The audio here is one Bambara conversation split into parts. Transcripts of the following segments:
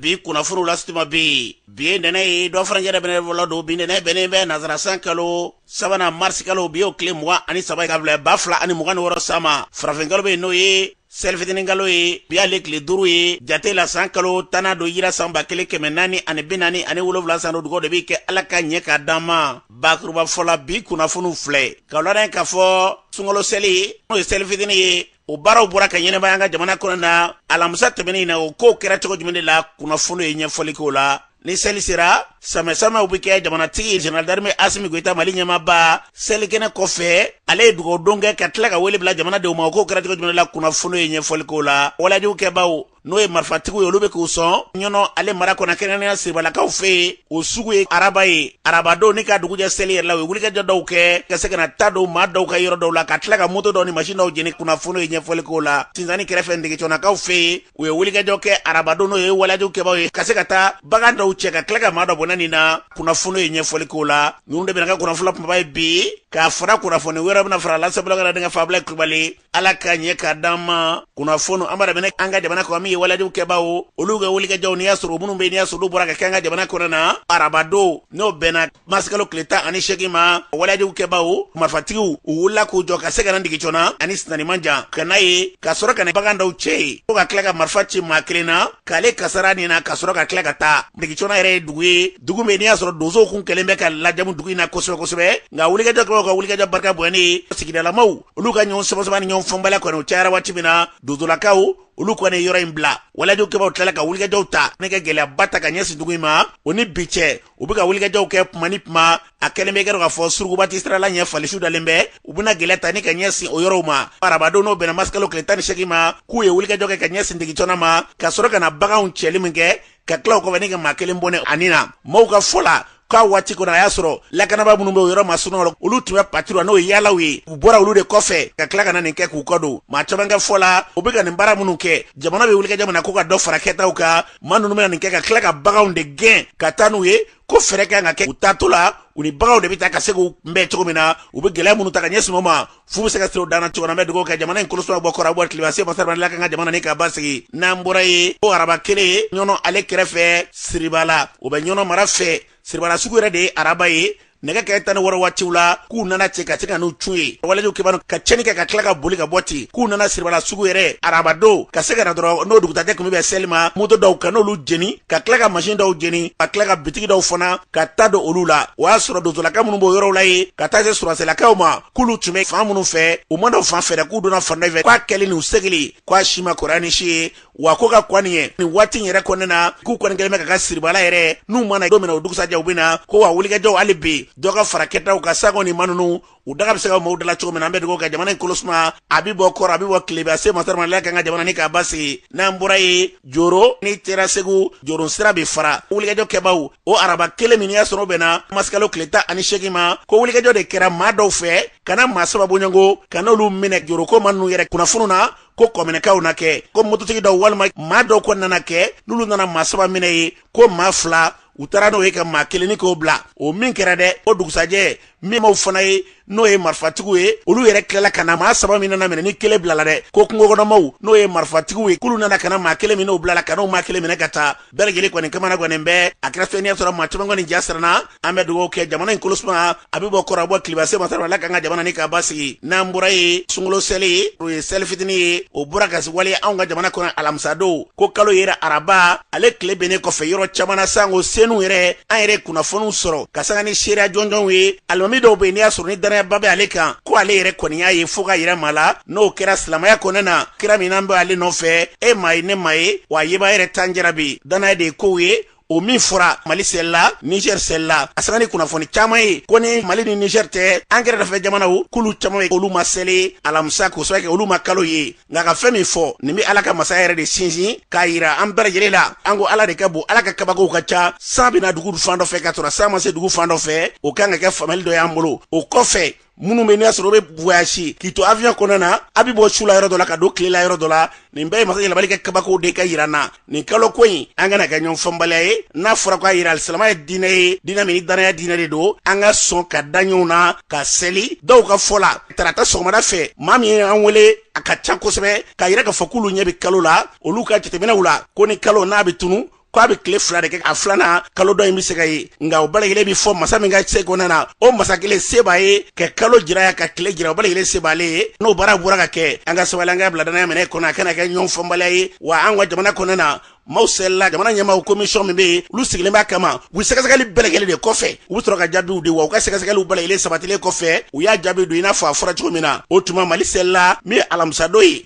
bi kunnafoniw lase tuma bɛ yen bi ye ntɛnɛn ye dɔ farancɛ dɛ ntɛnɛn fɔlɔ don bi ntɛnɛn bɛnnen bɛ nazarasan kalo sabanan marisi kalo bi y'o tile mugan ani saba ye ka bila ba fila ani mugan ni wɔɔrɔ san ma farafinkalo bɛ yen n'o ye selifitininkalo ye bi y'ale tile duuru ye jate la san kalo tannan don hijira san ba kelen kɛmɛ naani ani bi naani ani wolonwula san don dugawu de bɛ kɛ ala ka ɲɛ k'a d'an ma bakurubafɔ la bi kunnafoniw filɛ ka lɔnɛ k'a fɔ sunkalo seli n'o ye seli fitini ye o baaraw bɔra ka ɲɛnamaya an ka jamana kɔnɔ na alamisa tɛmɛnen na o kow kɛra cogo jumɛn de la kunnafoni ye ɲɛfɔli k'o la ni seli sera sanbɛsanbɛw bɛ kɛ jamanatigi jeneral darime asimi goyita mali ɲɛmaaba selikɛnɛ kɔfɛ ale ye dugawudon kɛ ka tila ka wele bila jamanadenw ma o kow kɛra cogo jumɛn la kunnafoni ye ɲɛfɔli k'o la waleyajugu kɛbaaw n'o ye marifatigiw ye olu bɛ k'u sɔn ɲɔnɔ ale mara kɔnɔ kɛrɛnkɛrɛnnenya siribalakaw fɛ yen o sugu ye araba ye arabadon ni ka dugujɛ seli yɛrɛ la u ye wulikajɔ dɔw kɛ ka se ka na ta don maa dɔw ka yɔrɔ dɔw la ka tila ka moto dɔw ni masin dɔw jeni kunnafoni ye ɲɛfɔli k'o la sinzani kɛrɛfɛ ndegetɔnakaw fɛ yen u ye wulikajɔ kɛ arabadon n'o ye waleyajugu kɛbaaw ye ka se ka taa bagan dɔw cɛ ka tila ka maa dɔ bɔnɛ nin na kunnafoni ye ɲɛfɔli k'o la ninnu de bɛna kɛ kunnafoni kumaba ye bi k'a fara kunnafoni wɛrɛ bɛna fara lasabulakara denkɛ fabila kulubali ala ka ɲɛ ka d'an ma kunnafoni an b'a daminɛ an ka jamana kɔnɔ min ye waleyajugu kɛbaaw olu ka wulikajɔw n'i y'a sɔrɔ minnu bɛ n'i y'a sɔrɔ olu bɔra ka kɛ an ka jamana kɔnɔ na arabadon n'o bɛnna marisikalo tile tan ani seegin ma waleyajugu kɛbaaw marifatigiw u wulila k'u jɔ ka se ka na ndigi jɔnna ani sinzani man jan ka na yen ka sɔrɔ ka na bagan dɔw cɛ yen fo ka tila ka marifa ci maa kelen na k'ale kasara nin na ka sɔrɔ ka tila ka taa ndigi jɔnna yɛrɛ ye dugu ye dugu min n'i y'a sɔrɔ donsow kun kɛlen bɛ ka lajamu dugu in na kosɛbɛ kosɛbɛ nka wulikajɔ kɛbaaw ka wulikajɔ barika bonya ni sigidalamaw olu ka ɲɔgɔn samasama ni ɲɔgɔn faamubaliya kɔni o cayara waati min na donsolakaw olu kɔni ye yɔrɔ in bila waleyajugu kɛbaaw tilala ka wulikajɔw ta ne ka gɛlɛyaba ta ka ɲɛsin dugu in ma o ni bi cɛ u bɛ ka wulikajɔw kɛ kuma ni kuma a kɛlen bɛ i k'a dɔn k'a fɔ suruguba tɛ sira la ɲɛ fali suw dalen bɛ u bɛna gɛlɛya ta ni ka ɲɛsin o yɔrɔw ma arabadon n'o bɛnna marisikalo tile tan ni seegin ma k'u ye wulikajɔ kɛ ka ɲɛsin degitɔnna ma ka sɔrɔ ka na baganw cɛli min kɛ ka tila o kɔfɛ ni ka maa kelen bɔnɛ a ni na maaw ka fɔ la k'a waati kɔnɔ a y'a sɔrɔ lakanabaa minnu bɛ o yɔrɔ masurunw la olu tun bɛ patiruyi la n'o ye yaalaw ye u bɔra olu de kɔfɛ ka tila ka na nin kɛ k'u kɔ don maa caman ka fɔ la u bɛ ka nin baara minnu kɛ jamana bɛ wulikajɔ min na ko ka dɔ fara kɛtaw kan maa ninnu bɛna nin kɛ ka tila ka baganw de gɛn ka taa n'u ye ko fɛɛrɛ kan ka kɛ u taatɔ la u ni baganw de bɛ taa ka se k'u kunbɛn cogo min na u bɛ gɛlɛya minnu ta ka ɲɛsin u ma fu bɛ se ka siri o dan na cogo na an bɛ dugawu kɛ jamana in koloso bɔ kɔrɔn bɔ tilebin se masa ala kan ka jamana ni ka basigi n'an bɔra yen ko araba kelen ye ɲɔnɔ ale kɛrɛfɛ siribala o bɛ ɲɔnɔ mara fɛ siribala sugu yɛrɛ de ye araba ye nɛgɛ ɲɛ tan ni wɔɔrɔ waatiw la k'u nana cɛ ka se ka n'u cun yen waleyajugu kɛbaa ninnu ka cɛni kɛ ka tila ka boli ka bɔ ten k'u nana siribala sugu yɛrɛ arabadon ka se ka na dɔrɔn n'o dugusajɛ kun bɛ seli ma moto dɔw ka n'olu jeni ka tila ka masin dɔw jeni ka tila ka bitigi dɔw fana ka ta don olu la o y'a sɔrɔ donsolaka minnu b'o yɔrɔw la ye ka taa se sɔrɔdasilakaw ma k'olu tun bɛ fan minnu fɛ u ma don o fan fɛ dɛ k'u donna fan dɔ fɛ k'a kɛlen n'u segili k'a si ma kɔrɔya ni si ye wa ko ka kɔni ye nin waati in yɛrɛ kɔnɔna na k'u kɔni kɛlen bɛ ka ka siribala yɛrɛ n'u ma na don min na o dugusajɛ u bɛ na ko wa wulikajɔw hali bi dɔ ka fara kɛtaw kan sango ni maa ninnu u daga bɛ se ka maaw dala cogo min na an bɛ dugawu kɛ jamana in kolosuma a bɛ bɔ kɔrɔ a bɛ bɔ tilebe a se masarama ala kan ka jamana ni k'a basigi n'an bɔra yen joro n'i sera segu joro sira bɛ fara wulikajɔ kɛbaaw o araba kelen min n'i y'a sɔrɔ o bɛnna marisikalo tile tan ani seegin ma ko wulikajɔ de kɛra maa dɔw fɛ ka na maa saba bɔɲɔgɔnko ka n'olu minɛ joro ko maa ninnu yɛrɛ kunnafoni na ko kɔminɛkaw na kɛ ko mototigi dɔw walima maa dɔw ko nana kɛ n'olu nana maa saba minɛ yen ko maa fila u taara n'o ye ka maa kelen nin k'o bila o min kɛra dɛ o dugusajɛ min maaw fana ye n'o ye marifatigiw ye olu yɛrɛ tilala ka na maa saba min nana minɛ ni kelen bilala dɛ ko kungokɔnɔmaw n'o ye marifatigiw ye k'olu nana ka na maa kelen min n'o bilala ka n'o maa kelen minɛ ka taa bɛɛ lajɛlen kɔni kamana gannen bɛ a kɛra fɛn n'i y'a sɔrɔ maa caman kɔni ja siranna an bɛ dugawu kɛ jamana in kolosuma a bɛ bɔ kɔrɔ a bɔ tilebe a se masa ala k'an ka jamana ni k'a basigi n'an bɔra yen sunkalo seli ye o ye seli fitinin ye o bɔra ka waleya anw ka jamana kɔnɔ alamisadon ko kalo yera araba ale tile binnen kɔfɛ yɔrɔ caman na sanko senu yɛrɛ an yɛrɛ kunnafoniw sɔrɔ k'a sanga ni seereya jɔnjɔnw ye alimami dɔw bɛ yen n'i y'a sɔrɔ ni danayaba bɛ ale kan ko ale yɛrɛ kɔni y'a ye fo k'a yira maa la n'o kɛra silamaya kɔnɔna na kira min n'an bɛ ale nɔfɛ e m'a ye ne m'a ye wa a yebaa yɛrɛ t'an cɛ la bi danaya de ye kow ye o min fɔra mali selila niger selila a sanga ni kunnafoni caaman ye ko ni mali ni niger tɛ an kɛrɛdafɛ jamanaw k'olu caaman ye olu ma seli alamisa k'o sababu kɛ olu ma kalo ye nka ka fɛn min fɔ nin bɛ ala ka masaya yɛrɛ de sinsin k'a yira an bɛɛ lajɛlen la an ko ala de ka bon ala ka kabakow ka ca san bɛ na dugu fan dɔ fɛ ka sɔrɔ san ma se dugu fan dɔ fɛ o ka kan ka kɛ faamuyali dɔ y'an bolo o kɔfɛ minnu bɛ n'i y'a sɔrɔ u bɛ voyage k'i to avion kɔnɔna na a bɛ bɔ su la yɔrɔ dɔ la ka don tile la yɔrɔ dɔ la nin bɛɛ ye masa yɛlɛmabali ka kabakow de ka jira an na nin kalo ko in a kana kɛ ɲɔgɔn faamubaliya ye n'a fɔra k'a jira alisilama ye diinɛ ye diinɛ min ni danaya diinɛ de don an ka sɔn ka da ɲɔgɔn na ka seli dɔw ka fɔ la tarata sɔgɔmada fɛ maa min ye an wele a ka ca kosɛbɛ k'a jira k'a fɔ k'olu ɲɛ bɛ kalo la olu ka jateminɛw la ko ni kalo n'a bɛ tunu ko a bɛ tile fila de kɛ a filanan kalo dɔ in bɛ se ka ye nka o bɛɛ lajɛlen bɛ fɔ masa min ka se kɔnɔna na o masa kelen se b'a ye ka kalo jira yan ka tile jira o bɛɛ lajɛlen se b'ale ye n'o baara bɔra ka kɛ an ka sabali an k'a bila danaya minɛn kɔnɔ a kana kɛ ɲɔgɔn faamubaliya ye wa an ka jamana kɔnɔna na maaw selila jamana ɲɛmaaw komisiyɔn min bɛ yen olu sigilen b'a kama u sɛgɛsɛgɛli bɛɛ lajɛlen de kɔfɛ u bɛ sɔrɔ ka jaabiw di wa u ka sɛgɛsɛgɛliw bɛɛ lajɛlen sabatilen kɔfɛ u y'a jaabi don i n'a fɔ a fɔra cogo min na o tuma mali selila min ye alamisadon ye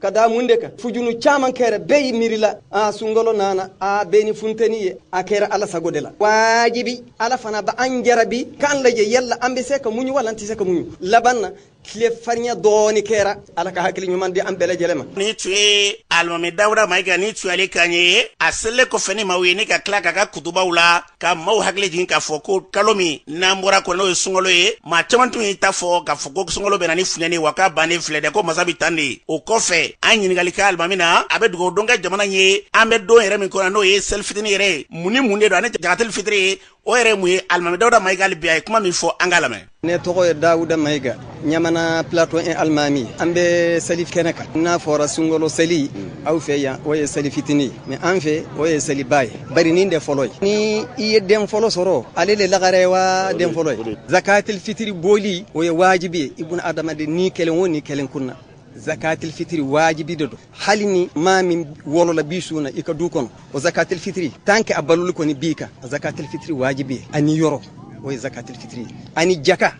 ka da mun de kan fujunu caman kɛra bɛɛ y'i miiri la a sunkalo nana a bɛɛ ni funteni ye a kɛra ala sago de la wajibi ala fana b'an jarabi k'an lajɛ yala an bɛ se ka muɲu wala an tɛ se ka muɲu laban na tile farinya dɔɔni kɛra ala ka hakili ɲuman di an bɛɛ lajɛlen ma nin tun ye alimami dawuda mayiga nin tun y'ale kan ye a selilen kɔfɛ ni maaw ye ni ka tila ka ka kutubaw la ka maaw hakili jigin k'a fɔ ko kalo min an bɔra kɔnɔ n'o ye sunkalo ye maa caman tun y'i ta fɔ k'a fɔ ko sunkalo bɛna ni funteni wa k'a bannen filɛ dɛ ko masa bi tan de o kɔfɛ an ɲininkali kɛ alimami na a bɛ dugawu don kɛ jamana ye an bɛ don yɛrɛ min kɔnɔ n'o ye seli fitini yɛrɛ ye mun ni mun de don ani jagateli fitiri o yɛrɛ mun ye alimami dawuda mayiga hali bi a ye kuma min fɔ an k'a lamɛn ne tɔgɔ ye dawuda mayiga ɲamana plato 1 alimami an bɛ seli kɛnɛ kan n'a fɔra sunkalo seli aw fɛ yan o ye seli fitini mais an fɛ o ye seliba ye bari nin de fɔlɔ ye ni i ye den fɔlɔ sɔrɔ ale le lagare ye wa den fɔlɔ ye zakatil fitiri bɔli o ye wajibi ye ibunu adamaden ni kelen o ni kelen kun na zakatil fitiri wajibi de don hali ni maa min wolola bi su na i ka du kɔnɔ o zakatil fitiri tant que a balolen kɔni b'i kan zakatil fitiri wajibiyanen yɔrɔ o zakatil fitiri ani jaka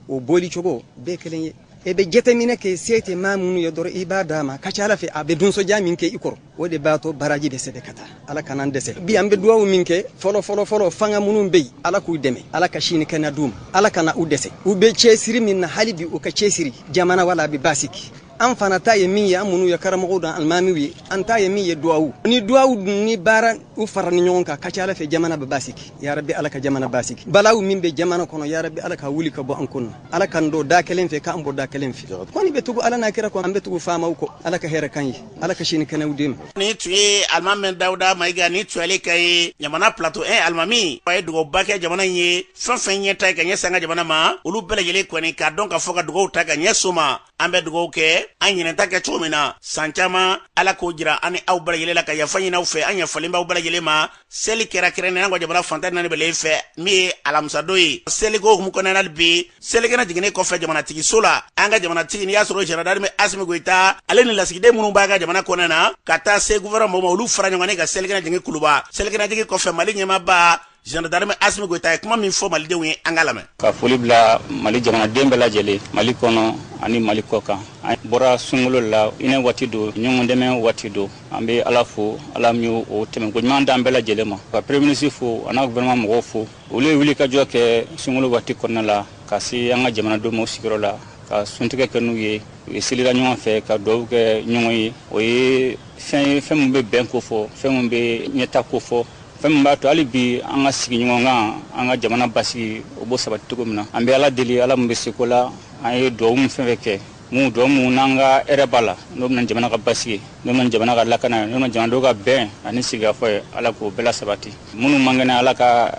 o bɔli cogo bɛɛ kelen ye e bɛ jateminɛ kɛ se tɛ maa minnu ye dɔrɔn i b'a d'a ma ka ca ala fɛ a bɛ dusu diya min kɛ i kɔrɔ o de b'a to baraji bɛ sɛbɛn ka taa ala kan'an dɛsɛ bi an bɛ duwawu min kɛ fɔlɔ fɔlɔ fɔlɔ fanga minnu bɛ yen ala k'u dɛmɛ ala ka si ni kɛnɛya d'u ma ala kana u dɛsɛ u bɛ cɛsiri min na hali bi u ka cɛsiri jamana wala a bɛ basiki an fana ta ye min ye an minnu ye karamɔgɔw dan alimamiw ye an ta ye min ye duwawu ni duwawu ni baara u faranen ɲɔgɔn kan ka ca ala fɛ jamana bɛ basiki yarabi ala ka jamana basiki balawu min bɛ jamana kɔnɔ yarabi ala k'a wuli ka bɔ an kunna ala k'an don da kelen fɛ k'an bɔ da kelen fɛ kɔni bɛ tugu ala n'a kira kɔ an bɛ tugu faamaw kɔ ala ka hɛrɛ k'an ye ala ka si ni kɛnɛya d'i ma nin tun ye alimami dawuda mayiga nin tun y'ale kan ye ɲamana plato 1 alimami a ye dugawuba kɛ jamana in ye fɛn fɛn ɲɛtaa ye ka ɲɛsin an ka jamana ma olu bɛɛ lajɛlen kɔni k'a dɔn k'a fɔ ka dugawu ta ka ɲɛsin o ma an bɛ dugawu kɛ an ɲinan ta kɛ cogo min na san caman ala k'o jira an ni aw bɛɛ lajɛlen la ka yafa ɲini aw fɛ an yafalen b'aw bɛɛ lajɛlen ma seli kɛra kɛrɛnnenya ka jamana fan tan naani bɛɛ fɛ min ye alamisadon ye seliko hukumu kɔnɔna hali bi selikɛnɛ jiginnen kɔfɛ jamanatigiso la an ka jamanatigi n'i y'a sɔrɔ général d'armée asimi goyita ale ni lasigiden minnu b'an ka jamana kɔnɔna na ka taa se gufɛrɛnaman maaw ma olu fara ɲɔgɔn ka selikɛnɛ jigin kuluba selikɛnɛ jigin kɔfɛ mali ɲɛmaaba général d'armée asimi goyita ye kuma min fɔ malidenw ye an k'a lamɛn ka foli bila mali jamanaden bɛɛ lajɛlen mali kɔnɔ ani mali kɔkan an bɔra sunkalo la hinɛ waati don ɲɔgɔn dɛmɛ waati don an bɛ ala fo ala min y'o tɛmɛnko ɲuman d'an bɛɛ lajɛlen ma ka premier ministre fo a n'a gouvernement mɔgɔw fo olu ye wuli ka jɔ kɛ sunkalo waati kɔnɔna la ka se an ka jamanadenw ma u sigiyɔrɔ la ka suntigɛ kɛ n'u ye u ye selira ɲɔgɔn fɛ ka duwawu kɛ ɲɔgɔn ye o ye fɛn min bɛ bɛn kofɔ fɛn min bɛ ɲɛtaa kofɔ fɛn min b'a to hali bi an ka sigiɲɔgɔnkan an ka jamana basigi o b'o sabati cogo min na an bɛ ala deli ala min bɛ se ko la an ye duwawu min fɛn fɛn kɛ mun duwawu mun n'an ka hɛrɛ b'a la n'o bɛna jamana ka basigi n'o bɛna jamana ka lakana ye n'o bɛna jamanadenw ka bɛn ani sigikafɔ ye ala k'o bɛɛ lasabati minnu man kɛnɛ ala ka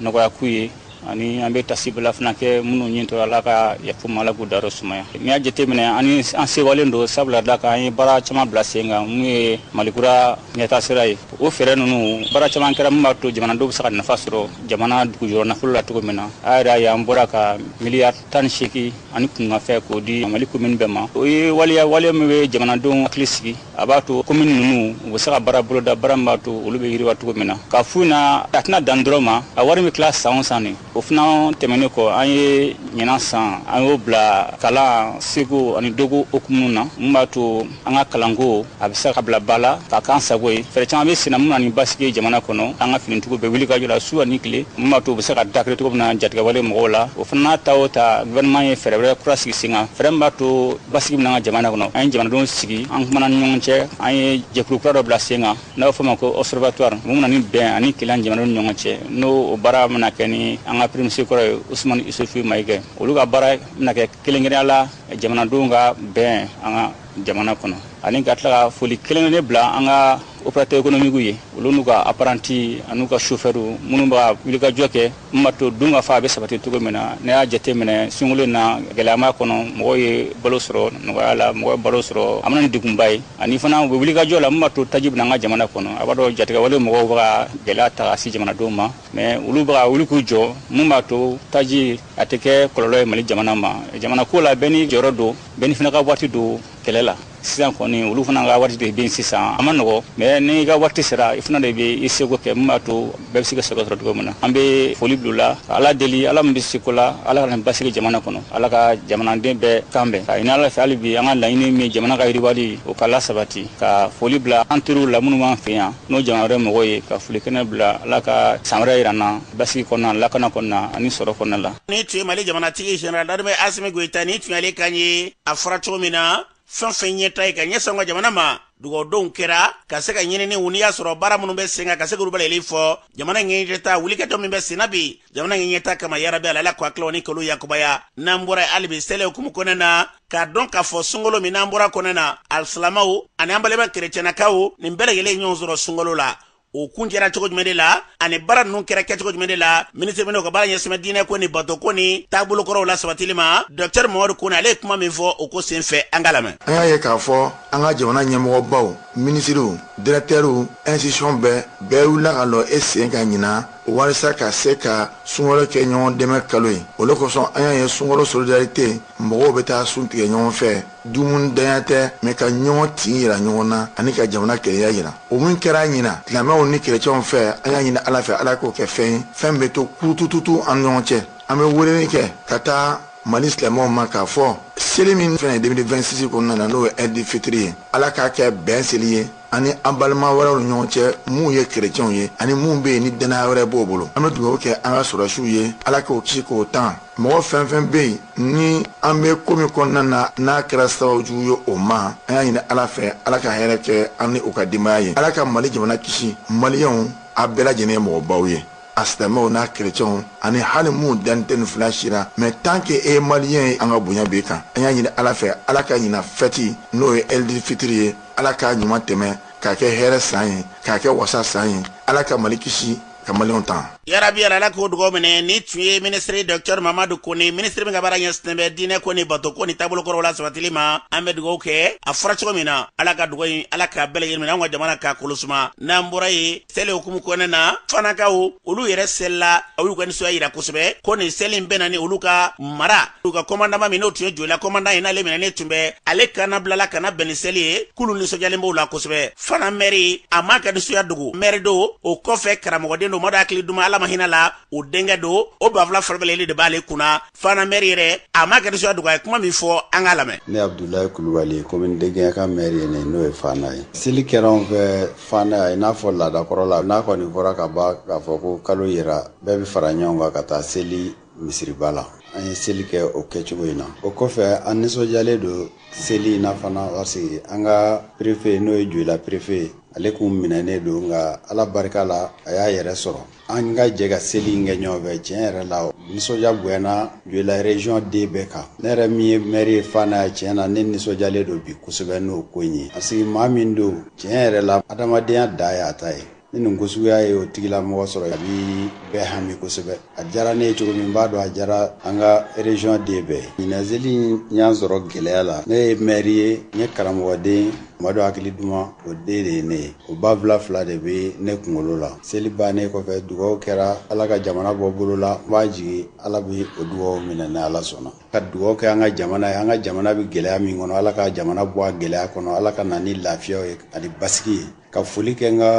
nɔgɔya k'u ye ani an bɛ tasibila fana kɛ minnu nin to ala ka yafa u ma ala k'u dayɔrɔ sumaya n'i y'a jateminɛ ani an sewalen don sabula da kan an ye baara caman bila sen kan mun ye malikura ɲɛta sira ye o fɛɛrɛ ninnu baara caman kɛra min b'a to jamanadenw bɛ se ka nafa sɔrɔ jamana dugujɔrɔ nafolo la cogo min na a yɛrɛ y'a ye an bɔra ka miliyari tan ni segin ani kunkanfɛn k'o di mali komini bɛɛ ma o ye waleya waleya min bɛ jamanadenw hakili sigi a b'a to komini ninnu u bɛ se ka baara boloda baara min b'a to olu bɛ yiriwa cogo min na k'a f'u na a tɛna dan dɔrɔn ma a wari bɛ tila san o san nin o fana tɛmɛnen kɔ an ye ɲinan san an y'o bila kalan seko ani dɔnko hukumu na min b'a to an ka kalanko a bɛ se ka bila ba la k'a k'an sago ye fɛɛrɛ caman bɛ sen na min bɛ na ni basigi jamana kɔnɔ an ka finitigiw bɛ wulikajɔ la su ani tile min b'a to u bɛ se ka dankari cogo min na jatigɛwale mɔgɔw la o fana n'a ta o ta gouvernement ye fɛɛrɛ wɛrɛ kura sigi sen kan fɛɛrɛ min b'a to basigi bɛ na an ka jamana kɔnɔ an ye jamanadenw sigi an kumana ni ɲɔgɔn cɛ an ye jɛkulu kura dɔ bila sen kan n'a bɛ fɔ o ma ko observatoire min bɛ na ni bɛn ani kelen jamanadenw ni ɲɔgɔn cɛ n'o baara bɛna kɛ ni an ka premier ministre kɔrɔ ye usumani isufi mayiga olu ka baara bɛna kɛ kelen-kelenya la jamanadenw ka bɛn an ka jamana kɔnɔ ani ka tila ka foli kɛrɛnkɛrɛnnen bila an ka opérateur économique ye olu n'u ka apprenti an'u ka chauffeur minnu bɛ ka wulikajɔ kɛ min b'a to dun ka fa a bɛ sabati cogo min na n'i y'a jateminɛ sunkalo in na gɛlɛyama kɔnɔ mɔgɔw ye balo sɔrɔ nɔgɔya la mɔgɔw ye balo sɔrɔ a ma na ni degunba ye ani fana u bɛ wulikajɔ la min b'a to taji bɛ na an ka jamana kɔnɔ a b'a dɔn jatigɛwale mɔgɔw bɛ ka gɛlɛya ta ka se jamanadenw ma mɛ olu bɛ ka wuli k'u jɔ mun b'a to taji a tɛ kɛ kɔlɔlɔ ye mali jamana ma jamana ko la bɛɛ n'i jɔyɔrɔ don bɛɛ n'i fana ka waati don kɛlɛ la sisan kɔni olu fana ka waati de bɛ sisan a ma nɔgɔ mɛ n'i ka waati sera i fana de bɛ i seko kɛ min b'a to bɛɛ bɛ se ka sɛgɛ sɔrɔ cogo min na an bɛ foli bila u la ka ala deli ala min bɛ se ko la ala ka na ni basigi jamana kɔnɔ ala ka jamanaden bɛɛ kan bɛn k'a ɲini ala fɛ hali bi an ka laɲini min jamana ka yiriwali o ka lasabati ka foli bila an teriw la minnu b'an fɛ yan n'o jamana wɛrɛ mɔgɔw ye ka foli kɛnɛ bila ala ka san wɛrɛ jira an na basigi kɔnɔna lakana kɔnɔna ani sɔrɔ kɔnɔna la nin tun ye mali jamanatigi général d'armée asimi goyita nin tun y'ale kan ye a fɔra cogo min na fɛn o fɛn ɲɛta ye ka ɲɛsin an ka jamana ma dugawudonw kɛra ka se ka ɲinini wuli y'a sɔrɔ baara minnu bɛ sen kan ka se k'olu waleyali fɔ jamana ɲɛɲɛta wulikajɔ min bɛ senna bi jamana ɲɛɲɛta kama yarabi ala ala k'a tila ni kalo yakubaya n'an bɔra hali bi seli hukumu kɔnɔna na k'a dɔn k'a fɔ sunkalo min n'an bɔra kɔnɔna na alisilamaw ani an balima kerecɛnnakaw nin bɛɛ lajɛlen ɲɔgɔn sɔrɔ sunkalo la o kuncɛra cogo jumɛn de la ani baara ninnu kɛra kɛcogo jumɛn de la minisiri min n'o ka baara ɲɛsinnen bɛ diinɛ ko ni bato ko ni taabolo kɔrɔw lasabatili ma dɔkitɛri mamadu kone ale ye kuma min fɔ o ko sen fɛ an k'a lamɛn an y'a ye k'a fɔ an ka jamana ɲɛmɔgɔbaw minisiriw dirɛktɛriw ɛnsitisiyɔn bɛɛ bɛɛ wulila ka lɔ i sen kan ɲinan walisa ka se ka sunkalo kɛ ɲɔgɔn dɛmɛ kalo ye o le kosɔn an y'a ye sunkalo solidarite mɔgɔw bɛ taa sun tigɛ ɲɔgɔn fɛ dumuni danya tɛ mais ka ɲɔgɔn tin yira ɲɔgɔn na ani ka jamana kelenya yira o min kɛra ɲina silamɛw ni kerecɛnw fɛ an y'a ɲini ala fɛ ala k'o kɛ fɛn ye fɛn bɛ to kurutututu an ɲɔgɔn cɛ an bɛ weleli kɛ ka taa mali silamɛw ma k'a fɔ seli min fɛnɛ 2026 kɔnɔna na n'o ye ɛdi fitiri ye ala k'a kɛ bɛn seli ye ani an balima wɛrɛw ni ɲɔgɔn cɛ minnu ye kerecɛnw ye ani minnu bɛ yen ni dannaya wɛrɛ b'o bolo an bɛ dugawu kɛ an ka sɔrɔdasiw ye ala k'o kisi k'o tan mɔgɔ fɛn fɛn bɛ yen ni an bɛ ko min kɔnɔna na n'a kɛra sababu jugu ye o ma an y'a ɲini ala fɛ ala ka hɛrɛ kɛ an ni u ka denbaya ye ala ka mali jamana kisi maliyɛnw a bɛɛ lajɛlen ye mɔgɔbaw ye a silamɛw n'a kerecɛnw ani hali minnu danni tɛ nin fila si la mais tant que e ye maliyɛn ye an ka bonya b'i kan an y'a ɲini ala fɛ ala ka ɲina fɛti n'o ye ɛlidi fitiri ye ala k'a ɲuman tɛmɛ k'a kɛ hɛrɛ san ye k'a kɛ wasa san ye ala ka mali kisi ka maliyɛnw tan yarabi ala ala k'o dugaw minɛ nin tun ye minisiri dɔctɛr mamadu kone minisiri min ka baara ɲɛsinnen bɛ diinɛ ko ni bato ko ni taabolo kɔrɔw la sabatili ma an bɛ dugaw kɛ a fɔra cogo min na ala ka dugaw in ala k'a bɛɛ lajɛlen minɛ an ka jamana k'a kolosuma n'an bɔra ye seli hukumu kɔnɔ na fanakaw olu yɛrɛ selila a y'u ka nisɔndiya yira kosɛbɛ ko nin seli in bɛnna ni olu ka mara olu ka kɔmandama min n'o tun ye joyila kɔmandan ye n'ale minɛnen tun bɛ ale ka na bilala ka na bɛn ni seli ye k'olu nisɔndiyalen b'o la kosɛbɛ fana mɛri a m'a ka nisɔndiya dogo mɛri don o kɔfɛ karamɔgɔden don madu hakili duma ala ma hinɛ la o denkɛ don o banfula fila bɛɛ lajɛlen de b'ale kunna fana mɛri yɛrɛ a m'a ka nisɔndiya dogo a ye kuma min fɔ an k'a lamɛn ne abudulayi kulubali komini de gɛɲɛka mɛri ye ne n'o ye fana ye seli kɛra anw fɛ Fana yan i n'a fɔ laadakɔrɔ la n'a kɔni fɔra ka ban k'a fɔ ko kalo yera bɛɛ bɛ fara ɲɔgɔn kan ka taa seli misiriba la an ye seli kɛ o kɛcogo in na o kɔfɛ an nisɔndiyalen don seli in na fana parce que an ka perefe n'o ye joyila perefe ye ale kun minɛnen don nka ala barika la a y'a yɛrɛ sɔrɔ an ka jɛ ka seli in kɛ ɲɔgɔn fɛ tiɲɛ yɛrɛ la nisɔndiya bonyana joyila region den bɛɛ kan ne yɛrɛ min ye maire ye fana yan tiɲɛ na ne nisɔndiyalen don bi kosɛbɛ n'o ko in ye parce que maa min don tiɲɛ yɛrɛ la adamadenya dan y'a ta ye ni nin ko suguya ye o tigilamɔgɔ sɔrɔ a bi bɛɛ hami kosɛbɛ a diyara ne ye cogo min b'a dɔn a diyara an ka region den bɛɛ ɲina seli y'an sɔrɔ gɛlɛya la ne ye maire ye n ye karamɔgɔden Madu hakili duman o den de ye ne ye o banfula fila de bɛ ne kunkolo la seli bannen kɔfɛ dugaw kɛra ala ka jamana bɔ bolo la n b'a jigi ala bɛ o dugaw minɛ ni ala sɔnna ka dugaw kɛ an ka jamana ye an ka jamana bɛ gɛlɛya min kɔnɔ ala ka jamana bɔ a gɛlɛya kɔnɔ ala ka na ni lafiyaw ye ani basigi ye ka foli kɛ n ka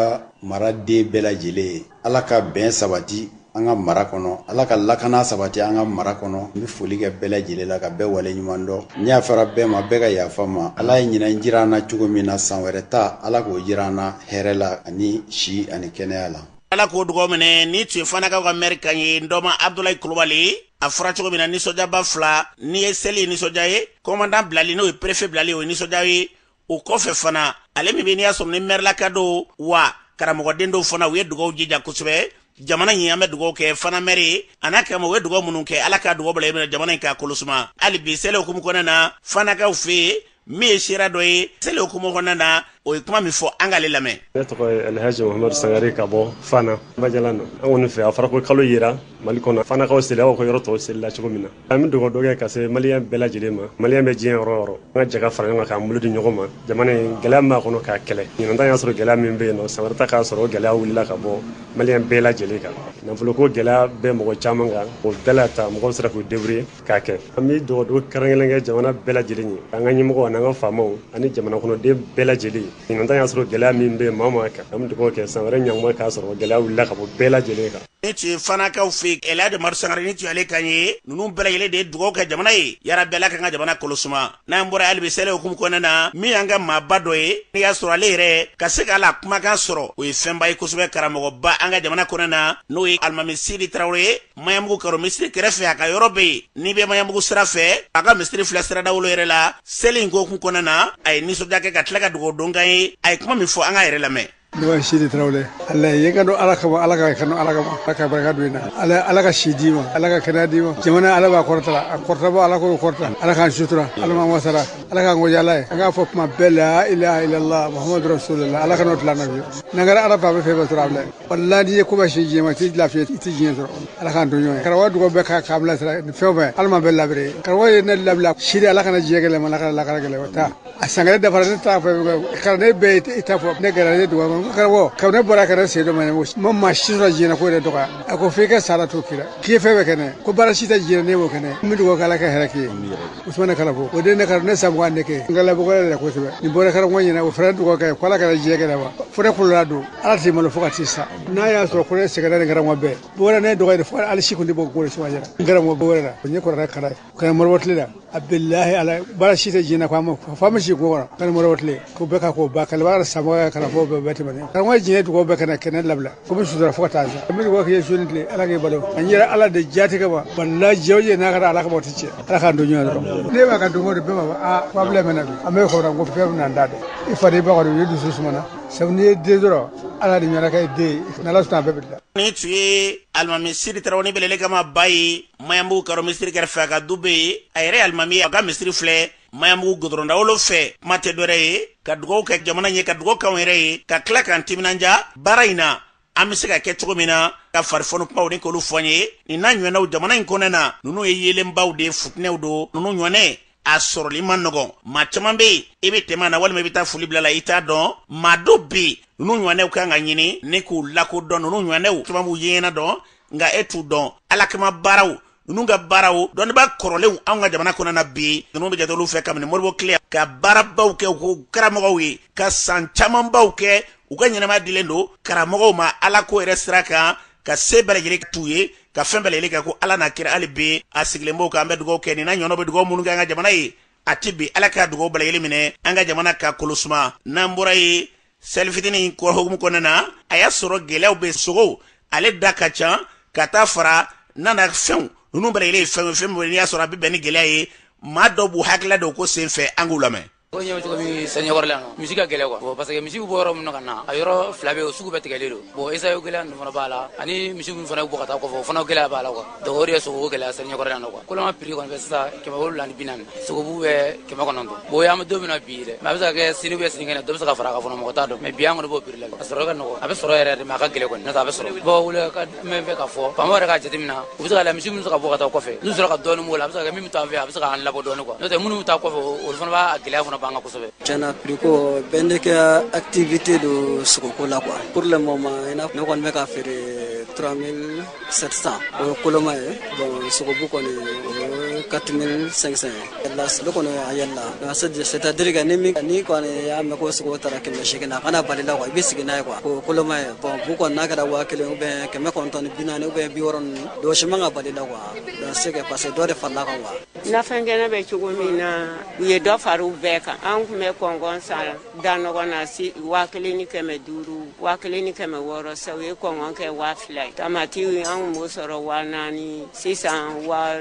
maraden bɛɛ lajɛlen ye Ala ka bɛn sabati an ka mara kɔnɔ Ala ka lakana sabati an ka mara kɔnɔ n bɛ foli kɛ bɛɛ lajɛlen la ka bɛɛ waleɲuman dɔn n yafara bɛɛ ma bɛɛ ka yafa n ma Ala ye ɲinan jira an na cogo min na san wɛrɛ ta Ala k'o jira an na hɛrɛ la ani si ani kɛnɛya la. Ala k'o dugaw minɛ nin tun ye Fanakaw ka mɛri kan ye n dɔma Abudulayi Kulubali a fɔra cogo min na nisɔndiyaba fila nin ye seli ye nisɔndiya ye kɔmandan bilali n'o ye perefe bilali o ye nisɔndiya ye o kɔfɛ fana ale min bɛ n'i y'a sɔrɔ ni mɛrilaka dɔw wa karamɔgɔden dɔw fana u ye dugaw jija kosɛbɛ jamana in an bɛ dugaw kɛ fana mɛri ye a n'a karamɔgɔw ye dugaw minnu kɛ ala ka dugaw bila minɛ jamana in k'a kolosuma hali bi seli hukumu kɔnɔna na fanakaw fɛ yen min ye sira dɔ ye seli hukumu kɔnɔna na o ye kuma min fɔ an k'ale lamɛn ne tɔgɔ ye alhaji mamadu sangare ka bɔ fana bajalan na an kɔni fɛ a fɔra ko kalo yera mali kɔnɔ fanakaw seli aw ka yɔrɔ tɔw selila cogo min na an bɛ dugawu dɔ kɛ ka se maliyɛn bɛɛ lajɛlen ma maliyɛn bɛ diɲɛ yɔrɔ o yɔrɔ an ka jɛ ka fara ɲɔgɔn kan k'an bolo di ɲɔgɔn ma jamana in gɛlɛya min b'a kɔnɔ k'a kɛlɛ ɲinan y'a sɔrɔ gɛlɛya min bɛ yen nɔ san wɛrɛ ta k'a sɔrɔ gɛlɛya wulila ka bɔ maliyɛn bɛɛ lajɛlen kan nafolo ko gɛlɛya bɛ mɔgɔ caman kan o bɛɛ la ta mɔgɔw sera k'u deburuye k'a kɛ an bɛ dugawu kɛrɛnkɛrɛn kɛ jamana bɛɛ lajɛlen ye an ka ɲɛmɔgɔw ani an ka faamaw ani jamana kɔnɔden bɛɛ lajɛlen ɲinan y'a sɔrɔ gɛlɛya min bɛ maa o maa kan an bɛ dugawu kɛ san wɛrɛ ɲɔnma k'a sɔrɔ gɛlɛya wulila ka bɔ bɛɛ lajɛlen kan nin tun ye fanakaw fɛ yen alhaji madu sangare nin tun y'ale kan ye ninnu bɛɛ lajɛlen de ye dugawu kɛ jamana ye yarabi ala k'an ka jamana kolosuma n'an bɔra hali bi seli hukumu kɔnɔna na min y'an ka maaba dɔ ye n'i y'a sɔrɔ ale yɛrɛ ka se k'a la kumakan sɔrɔ o ye fɛnba ye kosɛbɛ karamɔgɔba an ka jamana kɔnɔna na n'o ye alimami sidi tarawele ye maɲanbugu karo misiri kɛrɛfɛ a ka yɔrɔ bɛ yen n'i bɛ maɲanbugu sira fɛ a ka misiri filɛ sira dawolo yɛrɛ la seli in hukumu kɔnɔna na a ye nisɔndiya kɛ ka tila ka dugawu dɔ k'an ye a ye kuma min fɔ an k'a yɛrɛ lamɛn Ne tɔgɔ sidi tarawele ala ye ka don ala kama ala ka kanu ala kama ala ka barika don i na ala ala ka si d'i ma ala ka kɛnɛya d'i ma jamana ala b'a kɔrɔta a kɔrɔtaba ala k'o kɔrɔta ala k'an sutura ala ma wasara ala k'an gɔja ala ye an k'a fɔ kuma bɛɛ la ila ilala muhamadu rasulila ala kana tila na biyu n'an kɛra ala b'a bɛ fɛn bɛɛ sɔrɔ a bila walayi n'i ye koba si diɲɛ ma i tɛ lafiya i tɛ diɲɛ sɔrɔ ala k'an don ɲɔgɔn ye karamɔgɔ dugawu bɛɛ k'a k'a bilasira ni fɛn o fɛn ala ma bɛɛ labere karamɔgɔ ye ne labila sidi ala kana diɲɛ gɛlɛya i ma ala kana lakara gɛlɛya i ma taa a san kelen dafara ne t'a fɛ kalanden bɛɛ ye i t'a fɔ ne gɛrɛ ne dɔgɔ ma karamɔgɔ kabini ne bɔra kana sen dɔ ma ɲɛnabɔ ma maa si sɔrɔ diɲɛ ko yɛrɛ dɔgɔya a ko f'i ka sara to kira k'i ye fɛn bɛɛ kɛnɛ ko baara si tɛ diɲɛ ne b'o kɛnɛ n bɛ dugawu k'ala ka hɛrɛ k'i ye usumana kalafo o de ne kara ne san mugan ne kɛ n ka labɔgɔ yɛrɛ kosɛbɛ ne bɔra karamɔgɔ ɲɛna o fana dugawu kɛ ko ala kana diɲɛ kɛnɛ wa fo ne kolola don ala t'i malo fo ka t'i sa n'a y'a sɔrɔ ko ne sɛgɛnna ni karamɔgɔ bɛɛ bɔra ne dɔgɔ yɛrɛ fo hali si kun tɛ bɔ ko suma yɛrɛ n karamɔgɔ bɔ wɛrɛ la o ɲɛ kɔrɔla kara ye kaɲɛ modibo tile la a bilahi ala baara si tɛ jina ko a ma fa ma si ko kɔrɔ kaɲɛ modibo tile ko bɛɛ ka k'o ba kalabara samɔgɔ ka kalanfɔ bɛɛ bɛɛ tɛmɛnen karamɔgɔ diɲɛ dugawu bɛɛ kana kɛnɛ labila ko bɛ sutura fo ka taa sa an bɛ dugawu k'i ye soni tile ala k'i balo an yɛrɛ ala de jatigɛ wa wallahi jɛw ye n'a kɛra ala ka bɔ ti cɛ ala k'an don ɲɔgɔn dɔrɔn ne b'a ka don o don bɛɛ b'a fɔ aa ko abila mɛna bi an bɛ kɔrɔ ko fɛn bɛna n da dɛ i fa n'i ba kɔni u ye dusu sumana sabu n'i ye den dɔrɔn ala de ɲɛna kɛ den ye n'ala sɔnna a bɛɛ bɛ dilan nin tun ye alimami sidi tarawele belele kama ba ye maɲanbugu karo misiri kɛrɛfɛ a ka du be yen a yɛrɛ ye alimami ye a ka misiri filɛ maɲanbugu gudɔrɔn dawolo fɛ kuma tɛ dɔ wɛrɛ ye ka dugaw kɛ jamana ye ka dugaw k'anw yɛrɛ ye ka tila k'an timinanja baara in na an be se ka kɛ cogo min na ka farifɔni kumaw ni k'olu fɔ an ye nin n'a ɲɔgɔnnaw jamana in kɔnɔna na nunu ye yeelenbaw de futinɛw don nunu ɲɔgɔnɛ a sɔrɔli ma nɔgɔn maa caman be yen i be tɛmɛ a na walima i be taa foli bila a la i t'a dɔn maa dɔ be nunu ɲɔgɔnɛw kan ka ɲini ni k'u lakodɔn nunu ɲɔgɔnɛw caman b'u yeɲɛna dɔn nka e t'u dɔn ala kama baaraw ninnu ka baaraw dɔnnibaa kɔrɔlenw anw ka jamana kɔnɔna na bi ninnu bɛ jate olu fɛ kabini modibo tile ka baarabaw kɛ u karamɔgɔw ye ka san camanbaw kɛ u ka ɲɛnamaya dilen don karamɔgɔw ma ala ko yɛrɛ sira kan ka se bɛɛ lajɛlen t'u ye ka fɛn bɛɛ lajɛlen kɛ ko ala n'a kira hali bi a sigilen b'o kan an bɛ dugawu kɛ nin n'a ɲɔgɔnnaw bɛ dugawu minnu kɛ an ka jamana ye a tɛ bi ala ka dugawu bɛɛ lajɛlen minɛ an ka jamana ka kolo suma n'an bɔra yen seli fitini in ko hukumu kɔnɔna na a y'a sɔrɔ gɛlɛyaw bɛ sogo ale da ka ca ka taa fara nanafɛnw ninnu bɛɛ lajɛlen ye fɛn o fɛn min n'i y'a sɔrɔ a bɛ bɛn ni gɛlɛya ye maa dɔw b'u hakilila d'o ko sen fɛ an k'u lamɛn o ɲɛ cogo min seli ɲɛkɔrɔla yan misi ka gɛlɛn quoi bon parce que misi bɛ bɔ yɔrɔ min na ka na a yɔrɔ fila bɛ yen o sugu bɛɛ tigɛlen don bon esayo gɛlɛya ninnu fana b'a la ani misiw min fana bɛ bɔ ka taa kɔfɛ o fana gɛlɛya b'a la quoi donc o de ye sogo gɛlɛya seli ɲɛkɔrɔ yan nɔ quoi koloma prix kɔni bɛ sisan kɛmɛ wolowula ni bi naani sogobu bɛ kɛmɛ kɔnɔntɔn bon an bɛ don min na bi dɛ mais a bɛ se ka kɛ sini ou bien sinikɛnɛ dɔ bɛ se ka fara a kan fana mɔgɔ t'a dɔn mais bi an kɔni b'o prix la a sɔrɔ ka nɔgɔ a bɛ sɔrɔ yɛrɛ de mais a ka gɛlɛn kɔni n'o tɛ a bɛ sɔrɔ bon welekan min bɛ ka fɔ faamaw yɛrɛ k'a jateminɛ u bɛ se ka la misi minnu bɛ se ka bɔ ka taa kɔfɛ n'u sera ka dɔɔnin b'o la a bɛ se ka kɛ min bɛ to an fɛ a bɛ se k'an labɔ dɔɔnin quoi n'o tɛ minnu bɛ taa kɔfɛ olu fana b'a gɛlɛya fana b'an kan kosɛbɛ tiɲɛ na prix ko bɛɛ ne ka activité don sogoko la quoi pour le moment ne kɔni bɛ k'a feere 3000 700 o ye koloma ye bon sogobu kɔni o ye 4500 ye là sogo kɔni a yɛlɛla donc c'est à dire que ni min ni kɔni y'a mɛn ko sogo taara kɛmɛ seegin a kana bal'i la quoi i b'i sigi n'a ye quoi o koloma ye bon bu kɔni n'a kɛra waa kelen ou bien kɛmɛ kɔnɔntɔn ni bi naani ou bien bi wɔɔrɔ ninnu dɔ si man ka bal'i la quoi donc c'est que parce que dɔ de farala a kan quoi nafɛn kɛnɛ bɛ cogo min na u ye dɔ fara u bɛɛ kan an tun bɛ kɔnkɔn san da nɔgɔn na si waa kelen ni kɛmɛ duuru waa kelen ni kɛmɛ wɔɔrɔ sa u ye kɔnkɔn kɛ waa fila ye tamati an tun b'o sɔrɔ waa naani sisan waa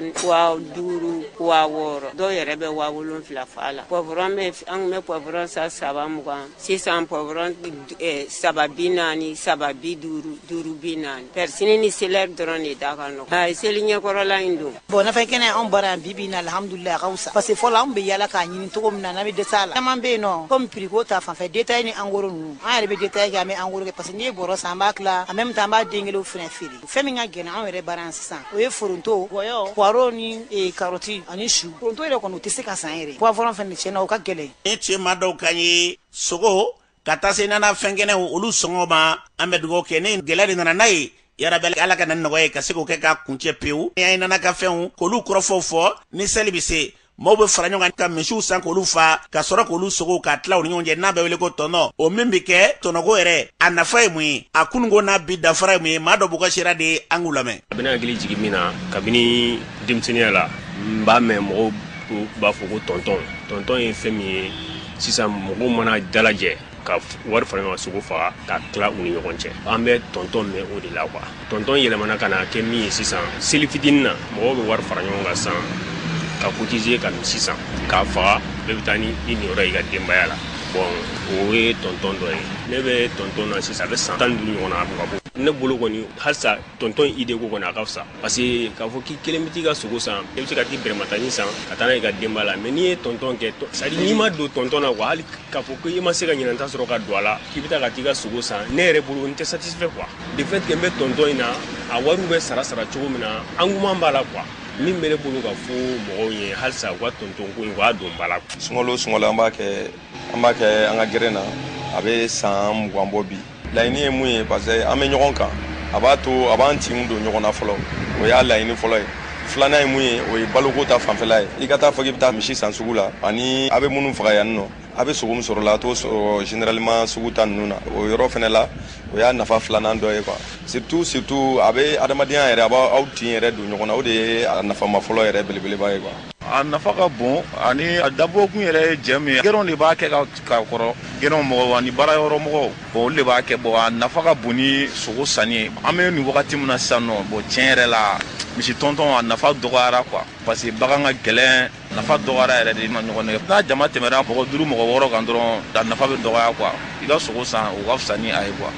duuru waa wɔɔrɔ dɔw yɛrɛ bɛ waa wolonfila f'a la pɔvɔrɔn bɛ an tun bɛ pɔvɔrɔn san saba mugan sisan pɔvɔrɔn eh, saba bi naani saba bi duuru duuru bi naani pɛrisini ni selɛri dɔrɔn de da ka nɔgɔ seli ɲɛkɔrɔla in don bɔn nafɛn kɛnɛ anw bara yan bibi na alhamdulilayi a ka fisa parce que fɔlɔ anw bɛ yaala k'a ɲini cogo min na n'an bɛ dɛsɛ a la caman bɛ yen nɔ komi piriko ta fanfɛ detaye ni angoro ninnu an yɛrɛ bɛ detaye kɛ an bɛ angoro kɛ parce que n'i ye bɔrɔ san an b'a tila en même temps an b'a den kelenw fɛnɛ feere fɛn min ka gɛlɛn anw yɛrɛ bara yan sisan o ye foronto gɔyɔ poireau ni eh, karɔti ani su foronto yɛrɛ kɔni u tɛ se ka san yɛrɛ poivron fɛnɛ tiɲɛ na o ka gɛlɛn nin cɛma dɔw kan ye sogo ka taa se nanafɛn kɛnɛw olu sɔngɔ ma an bɛ dugawu kɛ ni gɛlɛya de nana n'a ye yarabi ala ka na ni nɔgɔya ye ka se k'o kɛ k'a kuncɛ pewu ni an ye nana ka fɛnw k'olu kɔrɔfɔw fɔ ni seli bɛ se maaw bɛ fara ɲɔgɔn kan ka misiw san k'olu fa ka sɔrɔ k'olu sogo k'a tila u ni ɲɔgɔn cɛ n'a bɛ wele ko tɔnɔ o min bɛ kɛ tɔnɔko yɛrɛ a nafa ye mun ye a kununko n'a bi dafara ye mun ye maa dɔw b'u ka sira de ye an k'u lamɛn a bɛ n hakili jigin min na kabini denmisɛnninya la n b'a mɛn mɔgɔw b'a fɔ ko tɔntɔn tɔntɔn ye fɛn min ye sisan mɔgɔw mana dalajɛ ka wari fara ɲɔgɔn sogo faga ka tila u ni ɲɔgɔn cɛ an bɛ tɔntɔn mɛn o de la quoi tɔntɔn yɛlɛmana ka na kɛ min ye sisan seli fitinin na mɔgɔw bɛ wari fara ɲɔgɔn kan san ka cotiser ka misi san k'a faga bɛɛ bɛ taa ni i niyɔrɔ i ka denbaya la bɔn o ye tɔntɔn dɔ ye ne bɛ tɔntɔn na sisan a bɛ san tan duuru ɲɔgɔn na a bɛ k'a bɔ ne bolo kɔni halisa tɔntɔn in de ko kɔni a ka fisa parce que k'a fɔ k'i kelen bɛ t'i ka sogo san i bɛ se ka t'i bɛrɛmatani san ka taa n'a ye ka denbaya la mais n'i ye tɔntɔn kɛ c'est à dire n'i ma don tɔntɔn na quoi hali k'a fɔ ko i ma se ka ɲinan ta sɔrɔ ka don a la k'i bɛ taa ka t'i ka sogo san ne yɛrɛ bolo n tɛ satisfait quoi de fait que n bɛ tɔntɔn in na a wariw bɛ sara sara cogo min na engouement b'a la quoi min bɛ ne bolo ka fɔ mɔgɔw ye halisa u ka tɔntɔn ko in u k'a don ba la sunkalo sunkalo an b'a kɛ an b'a kɛ an ka gɛrɛn na a bɛ san mugan bɔ bi laɲini ye mun ye parce que an bɛ ɲɔgɔn kan a b'a to a b'an tin don ɲɔgɔn na fɔlɔ o y'a laɲini fɔlɔ ye filanan ye mun ye o ye baloko ta fanfɛla ye i ka t'a fɔ k'i bɛ taa misi san sugu la ani a bɛ minnu faga yan nɔ a bɛ sogo min sɔrɔ la a t'o sɔrɔ généralement sugu ta ninnu na o yɔrɔ fana la o y'a nafa filanan dɔ ye quoi surtout surtout a bɛ adamadenya yɛrɛ a b'aw tin yɛrɛ don ɲɔgɔn na o de ye a nafama fɔlɔ yɛrɛ belebeleba ye quoi a nafa ka bon ani a dabɔkun yɛrɛ ye jɛ min ye gɛrɛnw de b'a kɛ ka kɔrɔ gɛrɛn mɔgɔw ani baarayɔrɔ mɔgɔw bɔn olu de b'a kɛ bɔn a nafa ka bon ni sogo sanni an bɛ nin wagati min na sisan nɔ bɔn tiɲɛ yɛrɛ la misi tɔntɔn a nafa dɔgɔyara quoi parce que bagan ka gɛlɛn nafa dɔgɔyara yɛrɛ de ma ɲɔgɔn nɛgɛ n'a jama tɛmɛra mɔgɔ duuru mɔgɔ wɔɔrɔ kan dɔrɔn a nafa bɛ dɔgɔya quoi i ka sogo san o ka fisa ni a ye quoi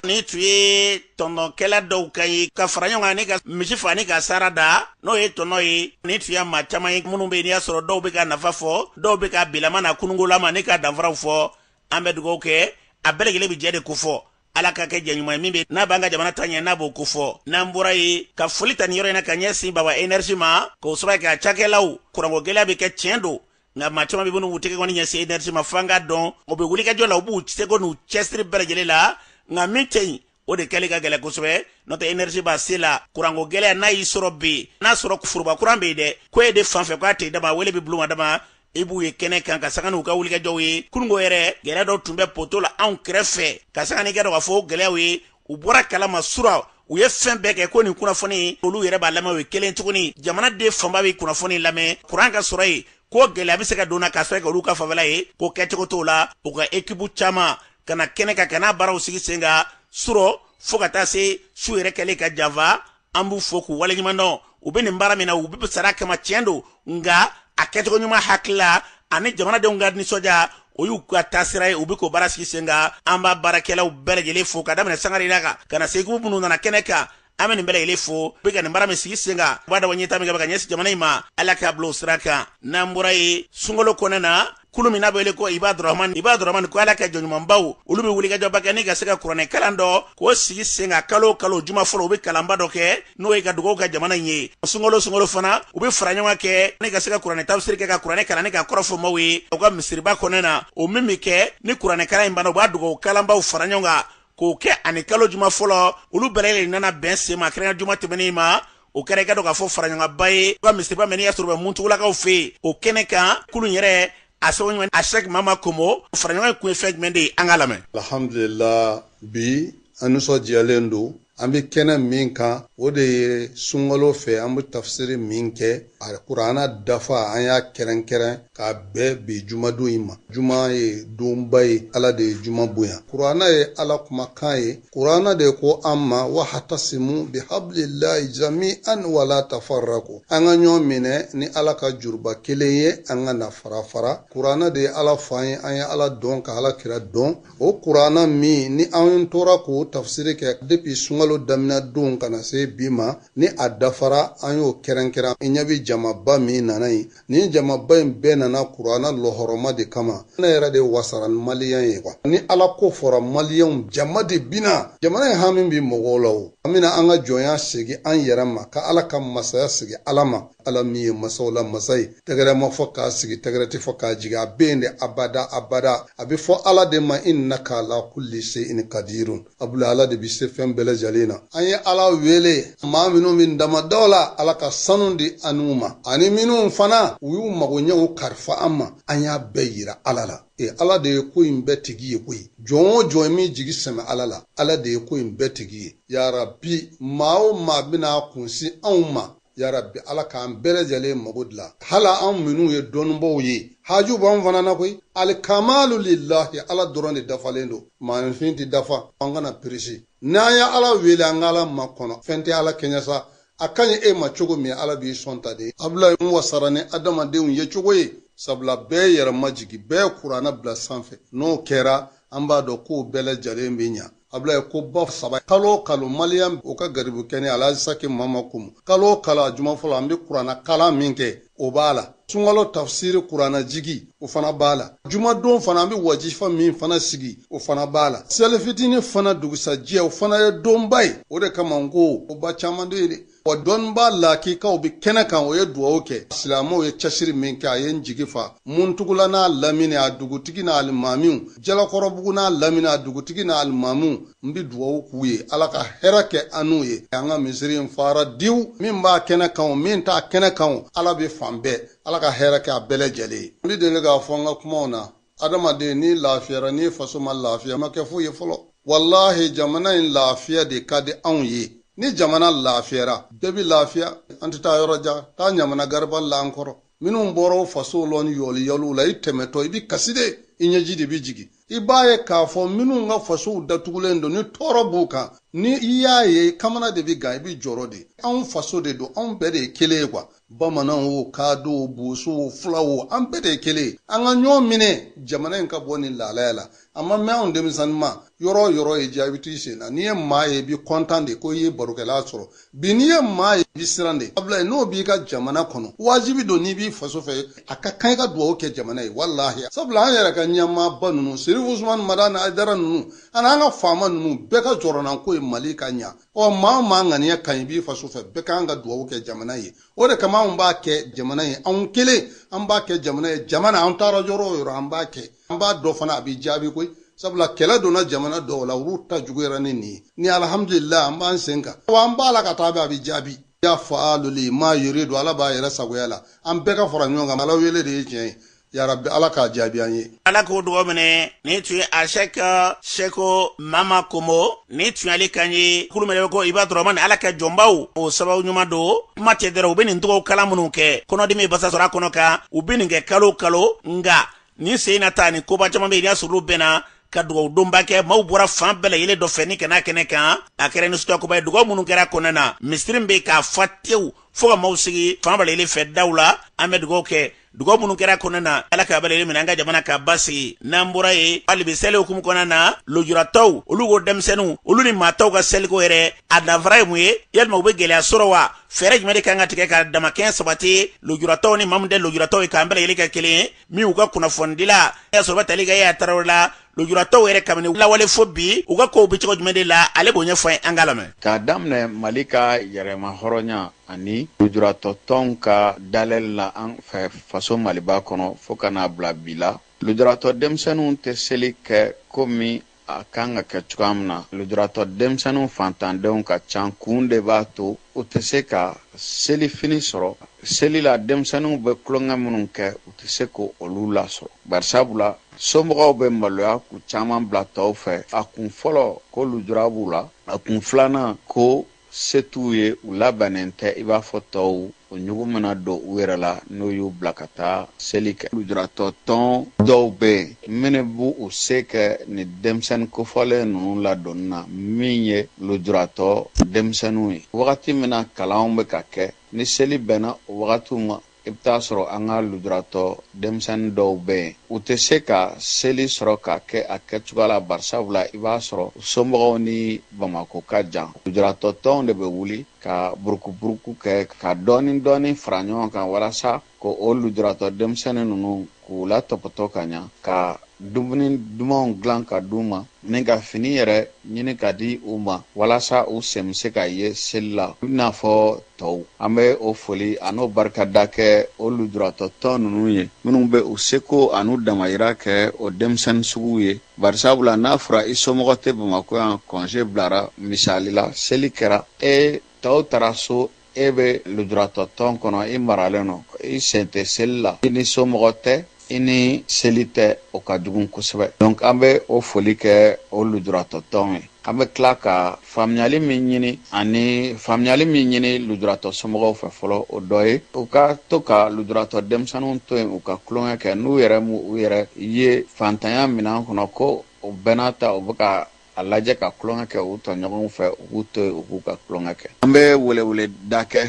nin tun ye tɔnɔkɛla dɔw kan ye ka fara ɲɔgɔn kan ni ka misi fa ni ka sara da n'o ye tɔnɔ ye nin tun ye maa caman ye minnu bɛ yen n'i y'a sɔrɔ dɔw bɛ k'a nafa fɔ dɔw bɛ k'a bilama n'a kununkolama ni k'a danfaraw fɔ an bɛ dugawu kɛ a bɛɛ lajɛlen bɛ jɛ de kofɔ ala k'a kɛ jɛ ɲuman ye min bɛ n'a b'an ka jamana taaɲɛ n'a b'o kofɔ n'an bɔra yen ka foli ta nin yɔrɔ in na ka ɲɛsin baba énergie ma k'o sababu kɛ a cakɛlaw kuranko gɛlɛya bɛ kɛ tiɲɛ don nka maa caman bɛ minnu b'u tɛgɛkɔni ɲɛsin enerisi ma fo an k'a dɔn u bɛ wulikajɔ la u b'u seko n'u cɛsiri bɛɛ lajɛlen la nka min tɛ yen o de kɛli ka gɛlɛ kosɛbɛ n'o tɛ enerisi b'a se la kuranko gɛlɛya n'a y'i sɔrɔ bi n'a sɔrɔ foroba kuran bɛ yen dɛ ko e de fan fɛ k'a tɛ dama wele bɛ bil'u ma dama i b'u ye kɛnɛ kan ka sanga n'u ka wulikajɔw ye kununko yɛrɛ gɛlɛya dɔ tun bɛ poto la anw kɛrɛfɛ ka sanga n'i k'a dɔn k'a fɔ gɛlɛyaw ye u bɔra kalama sura u ye fɛn bɛɛ kɛ ko nin kunnafoni olu yɛrɛ b'a lamɛn o ye kelen tuguni jamanaden fanba bɛ kunnafoni lamɛn kuran ka sɔrɔ yen ko gɛlɛya bɛ se ka don na ka sɔrɔ kɛ olu ka fanfɛla ye ko kɛcogo t'o la u ka ekipu caman ka na kɛnɛ kan ka na baaraw sigi sen kan surɔ fo ka taa se su yɛrɛ kɛlen ka janfa an b'u fo k'u waleɲumandɔn u bɛ nin baara min na u bɛ sara kama tiɲɛ don nka a kɛcogo ɲuman hakilila ani jamanadenw ka nisɔndiya o y'u ka taasira ye u bɛ k'o baara sigi sen kan an b'a baarakɛlaw bɛɛ lajɛlen fo ka daminɛ sangare la kan ka na se ekipu minnu nana kɛnɛ kan an bɛ nin bɛɛ lajɛlen fo u bɛ ka nin baara min sigi sen kan u b'a dabɔ ɲɛtaa min kɛ bɛ ka ɲɛsin jamana in ma ala k'a bila o sira kan n'an bɔra yen sunkalo kɔnɔ na kulu min n'a bɛ wele ko ibadurahman ibadurahman ko ala ka jɔnɲumanbaw olu bɛ wulikajɔba kɛ ni ka se ka kuranɛ kalan dɔ k'o sigi sen kan kalo kalo juma fɔlɔ u bɛ kalanba dɔ kɛ n'o ye ka dugawu kɛ jamana in ye sunkalo sunkalo fana u bɛ faraɲɔgɔn kɛ ni ka se ka kuranɛ tafsiri kɛ ka kuranɛ kalan ni k'a kɔrɔ fɔ maaw ye u ka misiriba kɔnɔ na o min bɛ kɛ ni kuranɛ kalan in banna u b'a dugawu kalanbaw fara ɲɔgɔn kan k'o kɛ ani kalo juma fɔlɔ olu bɛɛ lajɛlen nana bɛn sen ma kɛrɛnkɛrɛn juma tɛmɛnen ma o kɛra i k'a dɔn k'a fɔ faraɲɔgɔnba ye ka misiriba min n'i y'a sɔrɔ bɛ muntugulakaw fɛ yen o kɛnɛ kan kulu yɛrɛ a sɛbɛn a sɛk mama komo faraɲɔgɔn in kun ye fɛn jumɛn de ye an k'a lamɛn alhamdulillah bi an nisɔndiyalen don an bɛ kɛnɛ min kan o de ye sunkalo fɛ an bɛ tafsiri min kɛ a kurana dafa an y'a kɛrɛnkɛrɛn k'a bɛn bi jumadon in ma juma ye donba ye ala de ye juma bonya kurana ye ala kumakan ye Kurana de ko an ma wahtasimu bihablillahi jami'an wala tafarraku an ka ɲɔgɔn minɛ ni ala ka juruba kelen ye an kana farafara kurana de ye ala fɔ an ye an ye ala dɔn ka ala kira dɔn o kurana min ni an tora k'o tafsiri kɛ depi sunkalo damina don ka na se bi ma ni a dafara an y'o kɛrɛnkɛrɛn i ɲɛ bi jamaba min nana yen nin jamaba in bɛɛ nana kurana lɔhɔrɔma de kama ne yɛrɛ de wasara ni maliyɛn ye kuwa ni ala ko fɔra maliyɛnw jama de bina jamana in hami bi mɔgɔw la o an bena an ka jɔnya segi an yɛrɛ ma ka ala ka masaya segi ala ma ala min ye masaw la masa ye tɛgɛrɛ ma fɔ k'a sigi tɛgɛrɛ ti fɔ k'a jigi a be yen de abada abada a be fɔ ala de ma innaka ala kulli sein kadirun abula ala de bɛ se fɛn bɛɛ lajɛlen na an ye ala wele maa minnu bɛ damandaw la ala ka sanu di an n'u ma ani minnu fana u y'u magoɲɛw karifa an ma an y'a bɛɛ yira ala la e ala de ye ko in bɛɛ tigi ye koyi jɔn o jɔn min jigi sɛmɛ ala la ala de ye ko in bɛɛ tigi ye yarabi maa o maa bɛna a kun sin anw ma Yarabi ala k'an bɛɛ lajɛlen mago dilan hala an minnu ye dɔnnibaw ye haju b'an fana na koyi alikamalu lilahi ala dɔrɔn de dafalen don maanifin tɛ dafa an kana prisi n'an ye ala wele an ka ala makɔnɔ fɛn tɛ ala kɛɲɛ sa a ka ɲi e ma cogo min ala b'i sɔn tan de abulayi n wasara ni adamadenw ye cogo ye sabula bɛɛ yɛrɛ majigin bɛɛ kurana bila sanfɛ n'o kɛra An b'a dɔn k'o bɛɛ lajɛlen bɛ ɲa. Abulayi ko ba saba kalo o kalo Malian o ka garibu kɛnɛ Alhaji Saki Mama Komo kalo o kalo a juma fɔlɔ an bɛ kurana kalan min kɛ o b'a la. Sunkalo tafusiri kurana jigi o fana b'a la. Juma don fana an bɛ wajifa min fana sigi o fana b'a la. Selifitini fana dugusajɛ o fana ye donba ye. O de kama n ko ko ba caman de bɛ yen dɛ. wa dɔnnibaa lakikaw bɛ kɛnɛ kan o ye dugawu kɛ silamɛw ye cɛsiri min kɛ a ye n jigi fa muntugula n'a lamini a dugutigi n'a alimamiw jalakɔrɔbugu n'a lamini a dugutigi n'a alimamiw n bɛ dugawu k'u ye ala ka hɛrɛ kɛ an n'u ye an ka misiri in fara diw min b'a kɛnɛ kan o min t'a kɛnɛ kan o ala bɛ fan bɛɛ ala ka hɛrɛ kɛ a bɛɛ lajɛlen ye n bɛ deli k'a fɔ an ka kumaw na adamaden n'i lafiyara n'i faso ma lafiya ma kɛ foyi ye fɔlɔ walahi jamana in lafiya de ka di anw ye ni jamana lafiyara bɛɛ bi lafiya an tɛ taa yɔrɔ jan taa ɲamana garibali la an kɔrɔ minnu bɔra fasow la ni yɔliyɔliw la i tɛmɛtɔ i bi kasi de i ɲɛji de bi jigi i b'a ye k'a fɔ minnu ka fasow datugulen don ni tɔɔrɔ b'u kan ni i y'a ye kamana de bi gan i bi jɔrɔ de anw faso de don anw bɛɛ de ye kelen ye kuwa Bamanan wo kaado wo boso wo fula wo an bɛɛ de ye kelen ye an ka ɲɔgɔn minɛ jamana in ka bɔ nin lahalaya la a ma mɛɛn anw denmisɛnninma yɔrɔ o yɔrɔ y'i diya i bɛ t'i sen na n'i ye maa ye i bɛ kɔntan de ko i ye barokɛla sɔrɔ bi n'i ye maa ye i bɛ siran de abulayi n'o b'i ka jamana kɔnɔ wajibi don n'i b'i faso fɛ a ka kan i ka dugawu kɛ jamana ye walahi sabula an yɛrɛ ka ɲɛmaaba ninnu serifu usumani madani ayidara ninnu ani an ka faama ninnu bɛɛ ka jɔrɔnanko ye mali ka ɲa ɔ maa o maa ŋaniya ka ɲi i b'i faso fɛ bɛɛ kan ka dugawu kɛ jamana ye o de kama anw b'a kɛ jamana ye anw kelen an b'a kɛ jamana ye jamana an taara yɔrɔ o yɔrɔ an b'a kɛ an b'a dɔn fana a bi jaabi koyi sabula kɛlɛ donna jamana dɔw la olu ta juguyara ni nin ye ni alihamudulila an b'an sen kan wa an b'a la ka taa a bɛ jaabi ya faalu lima yuridu ala b'a yɛrɛ sagoya la an bɛɛ ka fara ɲɔgɔn kan ala wele de ye tiɲɛ ye yarabi ala k'a jaabi an ye ala k'o dugawu minɛ nin tun ye ashɛk seko mama komo nin tun y'ale kan ye kulu min ye ko ibadu rahamani ala ka jɔnbaw o sababu ɲuman don kuma tɛ dɛrɛ u bɛ nin tɔgɔw kalan minnu kɛ kɔnɔdimi basa sɔrɔ a kɔnɔ kan u bɛ nin kɛ kalo kalo nka nin sen na ta nin koba caman bɛ yen n'a sɔrɔ olu bɛnna ka dugawu donba kɛ maaw bɔra fan bɛɛ lajɛlen dɔ fɛ ni ka na kɛnɛ kan a kɛra nisɔndiyakoba ye dugawu minnu kɛra kɔnɔna na misiri bɛ ka fa tewu fɔɔ ka maaw sigi fan bɛɛ lajɛlen fɛ daw la an bɛ dugawu kɛ dugawu minnu kɛra a kɔnɔna na ala ka bɛɛ lajɛlen minɛ an ka jamana ka basigi n'an bɔra yen hali bi seli hukumu kɔnɔna na lujuratɔw olu ko denmisɛnninw olu ni maa tɔw ka seliko yɛrɛ a danfara ye mun ye yalima u bɛ gɛlɛya sɔrɔ wa fɛɛrɛ jumɛn de kan ka tigɛ ka damakɛɲɛ sabati lujuratɔw ni maa min tɛ lujuratɔw ye k'an bɛɛ lajɛlen kɛ kelen ye min u ka kunnafonidila sɔrɔba tali ka ye a tarawele la lujuratɔw yɛrɛ kabini lawale fo bi u ka kow bɛ cogo jumɛn de la ale b'o ɲɛfɔ ye an k'a lamɛn k'a daminɛ mali ka yɛrɛmahɔrɔnya ani lujuratɔtɔnw ka dayɛlɛli la an fɛ faso maliba kɔnɔ fɔɔ ka n'a bila bi la lujuratɔ denmisɛnninw tɛ seli kɛ komi a kan ka kɛ cogoya min na lujuratɔ denmisɛnninw fantandenw ka can kun de b'a to u tɛ se ka selifini sɔrɔ seli la denmisɛnninw bɛ tulonkɛ minnu kɛ u tɛ se k'olu lasɔrɔ barisabula somɔgɔw bɛ maloya k'u caman bila tɔw fɛ a kun fɔlɔ ko lujura b'u la a kun filanan ko se t'u ye u labɛnnen tɛ i b'a fɔ tɔw o ɲugun bɛna don u yɛrɛ la n'u y'u bila ka taa seli kɛ lujuratɔ tɔn dɔw bɛ yen minnu b'u se kɛ ni denmisɛnnin kofɔlen ninnu ladonni na min ye lujuratɔ denmisɛnninw ye wagati min na kalanw bɛ ka kɛ ni seli bɛnna o wagatiw ma i bɛ t'a sɔrɔ an ka lujuratɔ denmisɛnnin dɔw bɛ yen u tɛ se ka seli sɔrɔ k'a kɛ a kɛcogoya la barisabu la i b'a sɔrɔ somɔgɔw ni bamakɔ ka jan lujuratɔ tɔnw de bɛ wuli ka burukuburuku kɛ ka dɔɔni dɔɔni fara ɲɔgɔn kan walasa k'o lujuratɔ denmisɛnnin ninnu k'u latɔpɔtɔ ka ɲa ka dumuni dumanw dilan ka di u ma ni ka fini yɛrɛ ɲini ka di u ma walasa u sen bɛ se ka ye seli la i n'a fɔ tɔw an bɛ o foli an'o barikada kɛ o lujuratɔ tɔn ninnu ye minnu bɛ u seko an'u damayira kɛ o denmisɛnnin suguw ye barisabula n'a fɔra i somɔgɔ tɛ bamakɔ yan kɔnze bilara misali la seli kɛra e tɔw taara so e bɛ lujuratɔ tɔn kɔnɔ i maralen don i sen tɛ seli la i ni somɔgɔ tɛ i ni seli tɛ o ka jugu kosɛbɛ donc an bɛ o foli kɛ o lujuratɔ tɔn ye an bɛ tila ka faamuyali min ɲini ani faamuyali min ɲini lujuratɔ somɔgɔw fɛ fɔlɔ o dɔ ye u ka to ka lujuratɔ denmisɛnninw to yen u ka tulonkɛ kɛ n'u yɛrɛ u yɛrɛ ye faantanya minan kɔnɔ ko o bɛɛ n'a ta u bɛ ka a lajɛ ka tulonkɛ kɛ u tɔɲɔgɔnw fɛ u k'u to yen u k'u ka tulonkɛ kɛ an bɛ weleweleda kɛ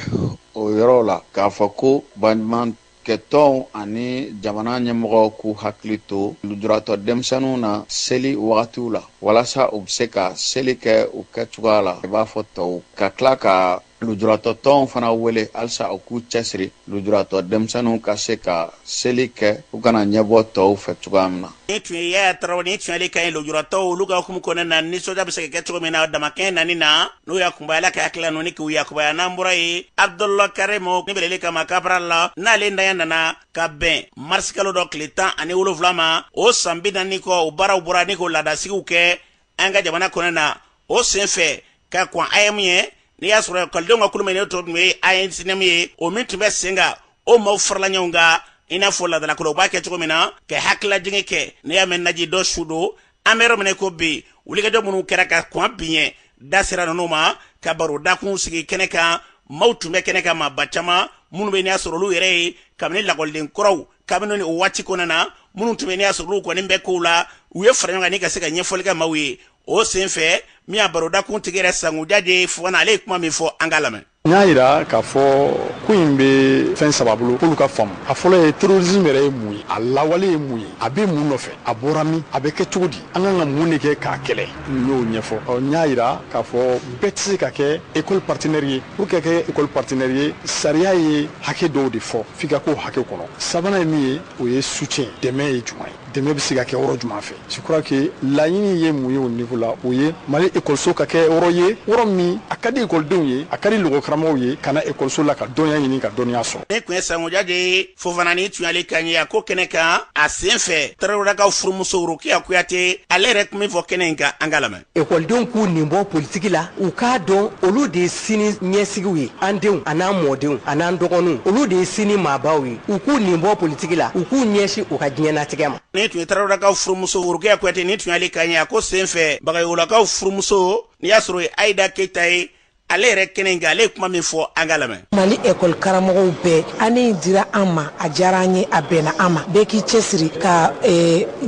o yɔrɔ la k'a fɔ ko baɲumankɛtɔnw ani jamana ɲɛmɔgɔw k'u hakili to lujuratɔ denmisɛnninw na seli wagatiw la walasa u bɛ se ka seli kɛ u kɛcogoya la i b'a fɔ tɔw ka tila ka lujuratɔ tɔnw fana wele halisa u k'u cɛsiri lujuratɔ denmisɛnninw ka se ka seli kɛ u kana ɲɛbɔ tɔw fɛ cogoya min na ni tun ye yaya tarawele ni tun y'ale kan ye lujuratɔw olu ka hukumu kɔnɔna na nisɔndiya bɛ se ka kɛ cogo min na damakɛɲɛ nani na n'o yakubaya ala ka hakilila ninnu ni k'u yakubaya n'an bɔra ye abdul karimu ni beleli kama kabarali n'ale ntanya nana ka bɛn marisikalo dɔ tile tan ani wolonwula ma o san bi naani kɔ o baaraw bɔra ni k'o laadasigiw kɛ an ka jamana kɔnɔ na o sen fɛ ka kɔn aeem ɲɛ n'i y'a sɔrɔ ekɔlidenw ka kulu min ne tɔ tun ye amsuneem ye o min tun bɛ sen kan o maaw farala ɲɔgɔn kan i n'a fɔ laadalako la u b'a kɛ cogo min na ka hakililajigi kɛ n'i y'a mɛn naji dɔ su don an bɛ yɔrɔ min na ko bi wulikajɔ minnu kɛra ka kɔn bi ɲɛ da sera ninnu ma ka baro dakun sigi kɛnɛ kan maaw tun bɛ kɛnɛ kan maaba caman minnu bɛ n'i y'a sɔrɔ olu yɛrɛ ye kabini lakɔliden kɔrɔw kabini ni o waati kɔnɔna na minnu tun bɛ n'i y'a sɔrɔ olu kɔni bɛ kow la u ye fara ɲɔgɔn kan ni ka se ka ɲɛfɔli kɛ maaw ye o senfɛ min y'a barodakun tigi yɛrɛ sanku jaje fofana ale ye kuma min fɔ an k'a lamɛn n y'a yira k'a fɔ ko in bɛ fɛn saba bolo k'olu ka faamu a fɔlɔ ye terrorisme yɛrɛ ye mun ye a lawale ye mun ye a bɛ mun nɔfɛ a bɔra min a bɛ kɛ cogo di an kan ka mun de kɛ k'a kɛlɛ n y'o ɲɛfɔ n y'a yira k'a fɔ bɛɛ tɛ se ka kɛ école partenaire ye pour ka kɛ école partenaire ye sariya ye hakɛ dɔw de fɔ f'i ka k'o hakɛ kɔnɔ sabanan ye min ye o ye soutien dɛmɛ ye jumɛn ye dɛmɛ bɛ se ka kɛ yɔrɔ jumɛn fɛ je crois que laɲini ye mun ye o niveau la o ye mali ekɔliso ka kɛ yɔrɔ ye yɔrɔ min a ka di ekɔlidenw ye a ka di lakɔlikaramɔgɔw ye ka na ekɔliso la ka dɔnniya ɲini ka dɔnniya sɔrɔ ni tun ye sanku jaje fofana ni tun y'ale kan ye a ko kɛnɛ kan a sen fɛ tarawelakaw furumuso worokiya kuyate ale yɛrɛ kuma min fɔ kɛnɛ in kan an k'a lamɛn ekɔlidenw k'u nin bɔ politiki la u k'a dɔn olu de ye sini ɲɛsigiw ye an denw ani an mɔdenw ani an dɔgɔninw olu de ye sini maabaw ye u k'u nin bɔ politiki la u k'u ɲɛsin u ka diɲɛnatigɛ ma ni tun ye tarawelakaw furumuso worokiya kuyate ni tun y'ale kan ye a ko sen fɛ bagayolakaw furumuso n'i y'a sɔrɔ ye ayida keyita ye ale yɛrɛ kɛnɛ in kan ale ye kuma min fɔ an k'a lamɛn mali ekɔli karamɔgɔw bɛɛ ani dira an ma a diyara an ye a bɛnna an ma bɛɛ k'i cɛsiri ka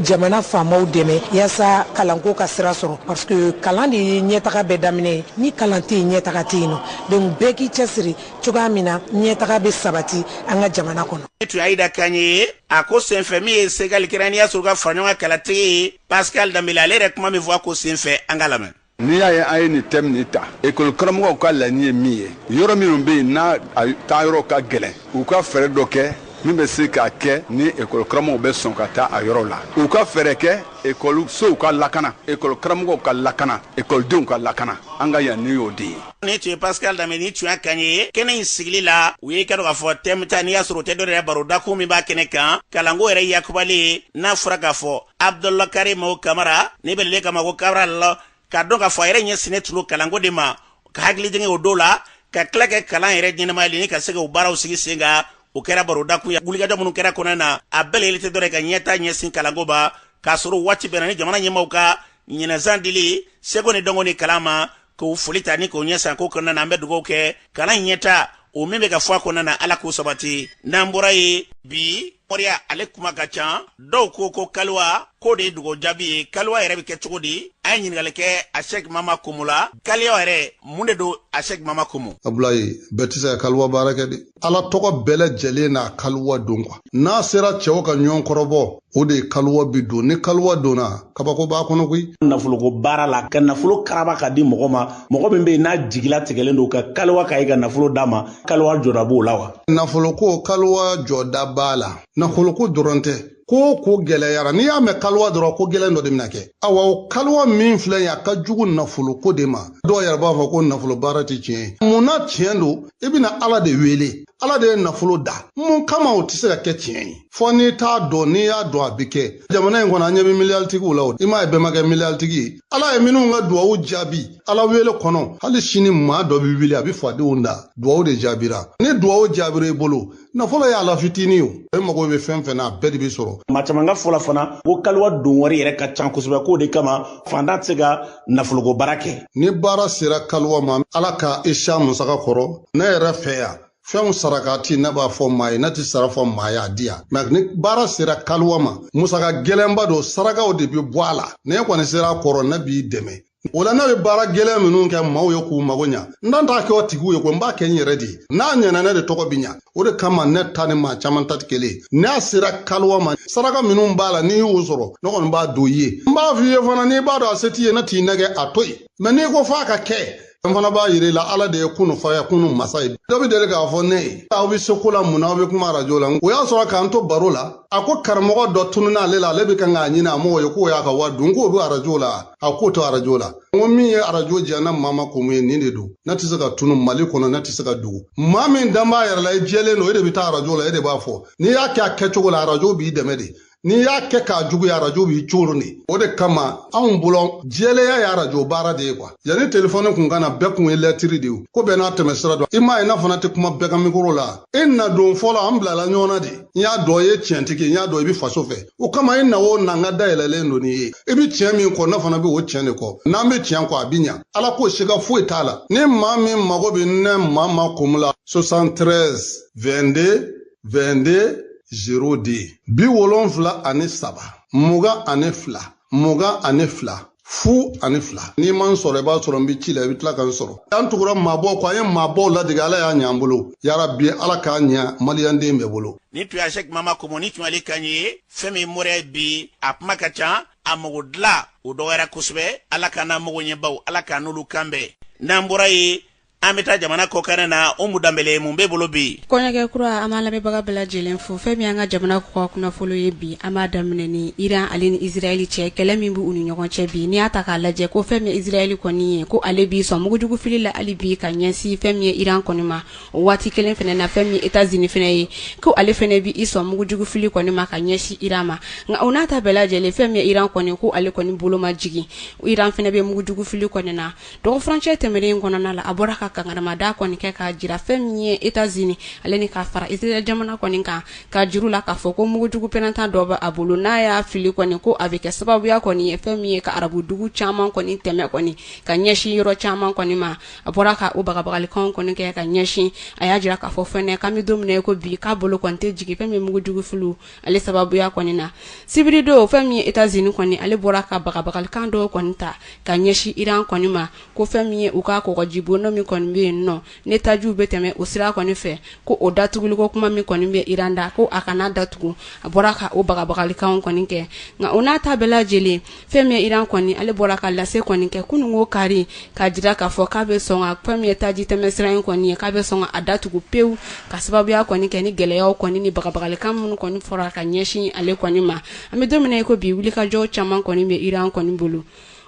jamana faamaw dɛmɛ yaasa kalanko ka sira sɔrɔ parce que kalan de ye ɲɛtaga bɛɛ daminɛ ye ni kalan tɛ yen ɲɛtaga tɛ yen nɔ donc bɛɛ k'i cɛsiri cogoya min na ɲɛtaga bɛ sabati an ka jamana kɔnɔ ni tun y'ayida kan ye a ko senfɛ min ye segali kɛra n'i y'a sɔrɔ ka fara ɲɔgɔn kan kalatigi ye pascal danbele ale yɛrɛ kuma min fɔ a ko senfɛ an k'a lamɛn n'i y'a ye an ye nin tɛmu nin ta ekɔli karamɔgɔw ka laɲini ye min ye yɔrɔ minnu bɛ yen n'a taa yɔrɔ ka gɛlɛn u ka fɛɛrɛ dɔ kɛ min bɛ se k'a kɛ ni ekɔli karamɔgɔw bɛ sɔn ka taa a yɔrɔ la u ka fɛɛrɛ kɛ ekɔli sow ka lakana ekɔli karamɔgɔw ka lakana ekɔlidenw ka lakana an ka laɲini y'o de ye ni tun ye pascal danbele ni tun y'a kan ye kɛnɛ in sigili la u y'i kanto k'a fɔ tɛmu ta n'i y'a sɔrɔ o tɛ dɔwɛrɛ barodakun min b'a kɛnɛ kan kalanko yɛrɛ yakubalen n'a fɔra k'a fɔ abdul karimu kamara ne bɛ le kama ko kabrali ka dɔn k'a fɔ a yɛrɛ ɲɛsinnen tun don kalanko de ma ka hakili jigin o don la ka tila kɛ kalan yɛrɛ ɲɛnamayali ni ka se ka o baaraw sigi sen kan o kɛra barodakun ye wulikajɔ minnu kɛra kɔnɔna na a bɛɛ lajɛlen tɛ dɔ wɛrɛ ye ka ɲɛtaa ɲɛsin kalanko ma k'a sɔrɔ waati bɛnna ni jamana ɲɛmaaw ka ɲinan san dili seko ni dɔnko ni kalan ma k'o foli ta ni k'o ɲɛ san ko kɔnɔna na an bɛ dugawu kɛ kalan in ɲɛtaa o min bɛ ka fɔ a kɔnɔna na ala k'o sabati n'an bɔra yen bi moriya ale kuma ka ca dɔw ko ko kaliwa k'o de ye dugawu jaabi ye kaliwa yɛrɛ bɛ kɛ cogo di an ye ɲininkali kɛ asɛki mama komu la kaliwa yɛrɛ mun de don asɛki mama komu abulayi bɛɛ tɛ se ka kaliwa baara kɛ dɛ ala tɔgɔ bɛɛ lajɛlen n'a kaliwa don kuwa n'a sera cɛw ka ɲɔgɔn kɔrɔbɔ o de kaliwa bi don ni kaliwa donna kabako b'a kɔnɔ koyi nafoloko baara la ka nafolo karaba ka di mɔgɔ ma mɔgɔ min bɛ yen n'a jigila tigɛlen don ka kaliwa k'a ye ka nafolo d'a ma kaliwa jɔda b'o la wa nafoloko kaliwa jɔda b'a la nafoloko dɔrɔn tɛ ko o ko gɛlɛyara n'i y'a mɛn kaliwa dɔrɔn ko gɛlɛn dɔ de bɛna kɛ awa o kaliwa min filɛ ye a ka jugu nafolo ko de ma dɔw yɛrɛ b'a fɔ ko nafolo baara tɛ tiɲɛ ye mun na tiɲɛ don i bɛna ala de wele ala de ye nafolo da mun kama o tɛ se ka kɛ tiɲɛ ye fo n'i t'a dɔn n'i y'a dɔn a bɛ kɛ jamana in kɔnɔ an ɲɛ bɛ miliyaritigiw la o i m'a ye bɛɛ ma kɛ miliyaritigi ye ala ye minnu ka duwawu jaabi ala wele kɔnɔ hali sini maa dɔ bɛ wuli a bɛ fadenw dan duwawu de jaabira ni duwawu jaabira i bolo nafolo y'a la fitinin ye e mago bɛ fɛn fɛn na a bɛɛ de bɛ sɔrɔ maa caman ka fɔla fana ko kaliwa don wari yɛrɛ ka can kosɛbɛ k'o de kama fantan tɛ se ka nafoloko baara kɛ ni baara sera kaliwa ma ala ka i se a musaka kɔrɔ ne yɛrɛ fɛ yan fɛnw saraka ti ne b'a fɔ maa ye ne ti sara fɔ maa y'a di yan mɛ ni baara sera kaliwa ma musaka gɛlɛnba don sarakaw de bɛ bɔ a la n'e kɔni sera a kɔrɔ ne b'i dɛmɛ o la ne bɛ baara gɛlɛn minnu kɛ maaw ye k'u mago ɲa n dan t'a kɛ o tigiw ye ko n b'a kɛ n yɛrɛ de ye n'a ɲɛna ne de tɔgɔ bi ɲa o de kama ne ta ni maa caman ta tɛ kelen ye n'a sera kaliwa ma saraka minnu b'a la n'i y'o sɔrɔ ne kɔni b'a don i ye n b'a f'i ye fana n'i b'a dɔn a se t'i ye ne t'i nɛgɛ a to yen mɛ n'i ko f'a ka kɛ n fana b'a yir'i la ala de ye kunu fayakunu masa ye dɔ bɛ deli k'a fɔ ne ye aw bɛ se ko la mun na aw bɛ kuma arajo la o y'a sɔrɔ k'an to baro la a ko karamɔgɔ dɔ tununna ale la ale bɛ kan k'a ɲini a m'o ye k'o y'a ka wari dun k'o bɛ arajo la a k'o tɛ arajo la n ko min ye arajo diya ne mama komu ye nin de don ne tɛ se ka tunun mali kɔnɔ ne tɛ se ka dogo maa min dan b'a yɛrɛ la i jɛlen don e de bɛ taa arajo la e de b'a fɔ n'i y'a kɛ a kɛcogo la arajo b'i dɛmɛ de n'i y'a kɛ k'a juguya arajo b'i coron de o de kama anw bolo jɛlenya ye arajo baara de ye kuwa yanni telefɔni kun ka na bɛɛ kun ye lɛtiri de ye ko bɛɛ n'a tɛmɛ sira don i m'a ye ne fana tɛ kuma bɛɛ ka mikoro la e na don fɔlɔ an bilala ɲɔgɔn na de n y'a dɔn i ye tiɲɛtigi n y'a dɔn i bɛ faso fɛ o kama e na o na n ka da yɛlɛlen don n'i ye i bɛ tiɲɛ min kɔ ne fana bɛ o tiɲɛ de kɔ n'an bɛ tiɲɛ kɔ a bɛ ɲa ala k'o siga foyi t'a la ni maa min mago bɛ ne mama kumu la 73 22 22 02 bi wolonfila ani saba mugan ani fila mugan ani fila fu ani fila n'i ma n sɔrɔ i b'a sɔrɔ n bɛ ci la i bɛ tila ka n sɔrɔ an tugura maabɔw kɔ an ye maabɔw ladege ala y'a ɲɛ an bolo yarabi ala k'a ɲɛ maliyanden bɛɛ bolo ni tun y'a sɛk mama komo ni tun ale kan ye fɛn min moriya ye bi a kuma ka ca a mago dilan o dɔgɔyara kosɛbɛ ala k'an n'a mago ɲɛbaw ala k'an n'olu kan bɛn n'an bɔra yen an bɛ taa jamana kɔkan na umu danbele mun bɛ bolo bi kɔɲɔkɛ kura an b'an lamɛnbaga bɛɛ lajɛlen fo fɛn min an ka jamana kɔkan kunnafolo ye bi an b'a daminɛ ni iran ale ni israɛli cɛ kɛlɛ min bɛ u ni ɲɔgɔn cɛ bi n'i y'a ta k'a lajɛ ko fɛn min israɛli kɔni ye ko ale b'i sɔn mugujugufili la hali bi ka ɲɛsin fɛn min ye iran kɔni ma o waati kelen fana na fɛn min etazini fana ye ko ale fana bɛ i sɔn mugujugufili kɔni ma ka ɲɛsin iran ma nka o n'a ta bɛɛ lajɛlen fɛn min ye iran kɔni ko ale kɔni bolo ma jigin iran fana bɛ mugujugufili kɔni na dɔgɔ furancɛ tɛmɛnen kɔnɔna la a bɔra ka kankarimada kɔni kɛ k'a jira fɛn min ye etazini ale ni ka fara israel jamana kɔni kan k'a jira u la k'a fɔ ko mugujugu pɛrɛnta dɔ bɛ a bolo n'a y'a fili kɔni ko a bɛ kɛ sababuya kɔni ye fɛn min ye ka arabudugu caman kɔni tɛmɛ kɔni ka ɲɛsin yɔrɔ caman kɔni ma a bɔra ka o bagabagalikan kɔni kɛ ka ɲɛsin a y'a jira k'a fɔ fana k'an bɛ don min na ko bi k'a bolo kɔni tɛ jigin fɛn min mugujugu fili ale sababuya kɔni na sibiri don fɛn min ye etazini kɔni ale bɔra ka bagabagalikan dɔw kɔni ta ka ɲɛsin iran kɔni ma ko fɛn min ye u ka kɔgɔjibolo min kɔni bɛ yen n'o ye tajiw bɛ tɛmɛ o sira kɔni fɛ ko o datuguliko kuma min kɔni bɛ iran da ko a kana datugu a bɔra ka o bagabagalikanw kɔni kɛ nka o n'a ta bɛɛ lajɛlen fɛn min ye Iran kɔni ale bɔra ka lase kɔni kɛ kunun ko kari k'a jira k'a fɔ k'a bɛ sɔn ka fɛn min ye taji tɛmɛsira in kɔni ye k'a bɛ sɔn a datugu pewu ka sababuya kɔni kɛ ni gɛlɛyaw kɔni ni bagabagalikan minnu kɔni fɔra ka ɲɛsin ale kɔni ma an bɛ don min na i ko bi wulikajɔ caman kɔni bɛ Iran kɔni bolo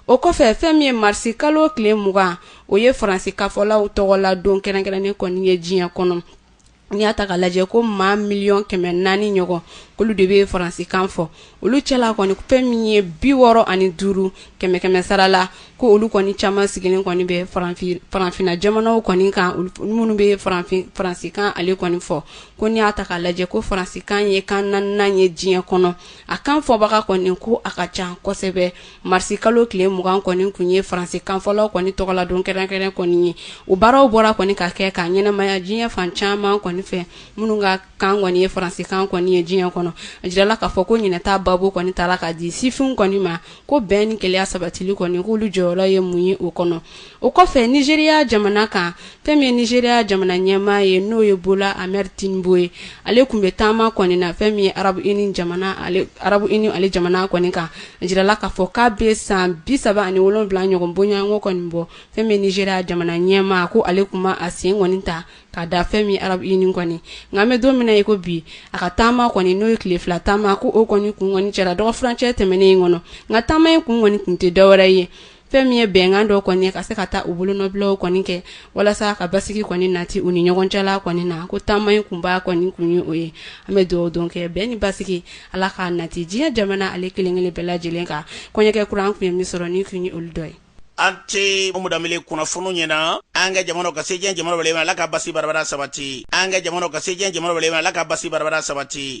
o kɔfɛ fɛn min ye marisi kalo tile mugan o ye faransikanfɔlaw tɔgɔla don kɛrɛnkɛrɛnnen kɔni ye diɲɛ kɔnɔ n'i y'a ta k'a lajɛ ko maa miliyɔn kɛmɛ naani ɲɔgɔn k'olu de bɛ faransikan fɔ olu cɛla kɔni fɛn min ye bi wɔɔrɔ ani duuru kɛmɛ kɛmɛ sara la ko olu kɔni caman sigilen kɔni bɛ farafinna jamanaw kɔni kan minnu bɛ faransikan ale kɔni fɔ ko n'i y'a ta k'a lajɛ ko faransikan ye kan naaninan ye diɲɛ kɔnɔ a kan fɔbaga kɔni ko a ka ca kosɛbɛ marisi kalo tile mugan kɔni tun ye faransikanfɔlaw kɔni tɔgɔladon kɛrɛnkɛrɛn kɔni ye o baaraw bɔra kɔni ka kɛ ka ɲɛnamaya diɲɛ fan caman kɔni fɛ minnu ka kan kɔni ye faransikan kɔni ye diɲɛ kɔnɔ a jirala k'a fɔ ko ɲɛnata babu kɔni tara ka di sifinw kɔni ma ko bɛn ni kelenya sabatili kɔni k'olu jɔyɔrɔ ye mun ye o kɔnɔ o kɔfɛ nizeriya jamana kan fɛn min ye nizeriya jamana ɲɛmaa ye n'o ye bola ahmed tinubu ye ale tun bɛ taama kɔni na fɛn min ye arabu arabu uni ale jamana kɔni kan a jirala k'a fɔ k'a bɛ san bi saba ani wolonwula ɲɔgɔn bonya ko kɔni bɔ fɛn min ye nizeriya jamana ɲɛmaa ko ale tun ma a sen kɔni ta ka da fɛn min arabu uni kɔni nka an bɛ don min na ko bi a ka taama kɔni n'o ye tile fila taama ko o kɔni tun kɔni kɛra dɔgɔ furancɛ tɛmɛnen in kɔnɔ nka taama in kun kɔni tun tɛ dɔwɛrɛ ye fɛn min ye bɛnkan dɔ kɔni ka se ka taa u bolonɔbilaw kɔni kɛ walasa ka basigi kɔni nati u ni ɲɔgɔn cɛla kɔni na ko taama in kunba kɔni tun ye o ye an bɛ dugawu don kɛ bɛn ni basigi ala k'a nati diɲɛ jamana ale kelenkelen bɛɛ lajɛlen kan kɔɲɔkɛ kuran tun ye min sɔrɔ ni tun ye olu dɔ ye an tɛ mudamele kunnafoni ɲɛna an ka jamana ka se diɲɛ jamana bɛɛ ala ka basi barabara sabati an ka jamana ka se diɲɛ jamana bɛɛ ala ka basi barabara sabati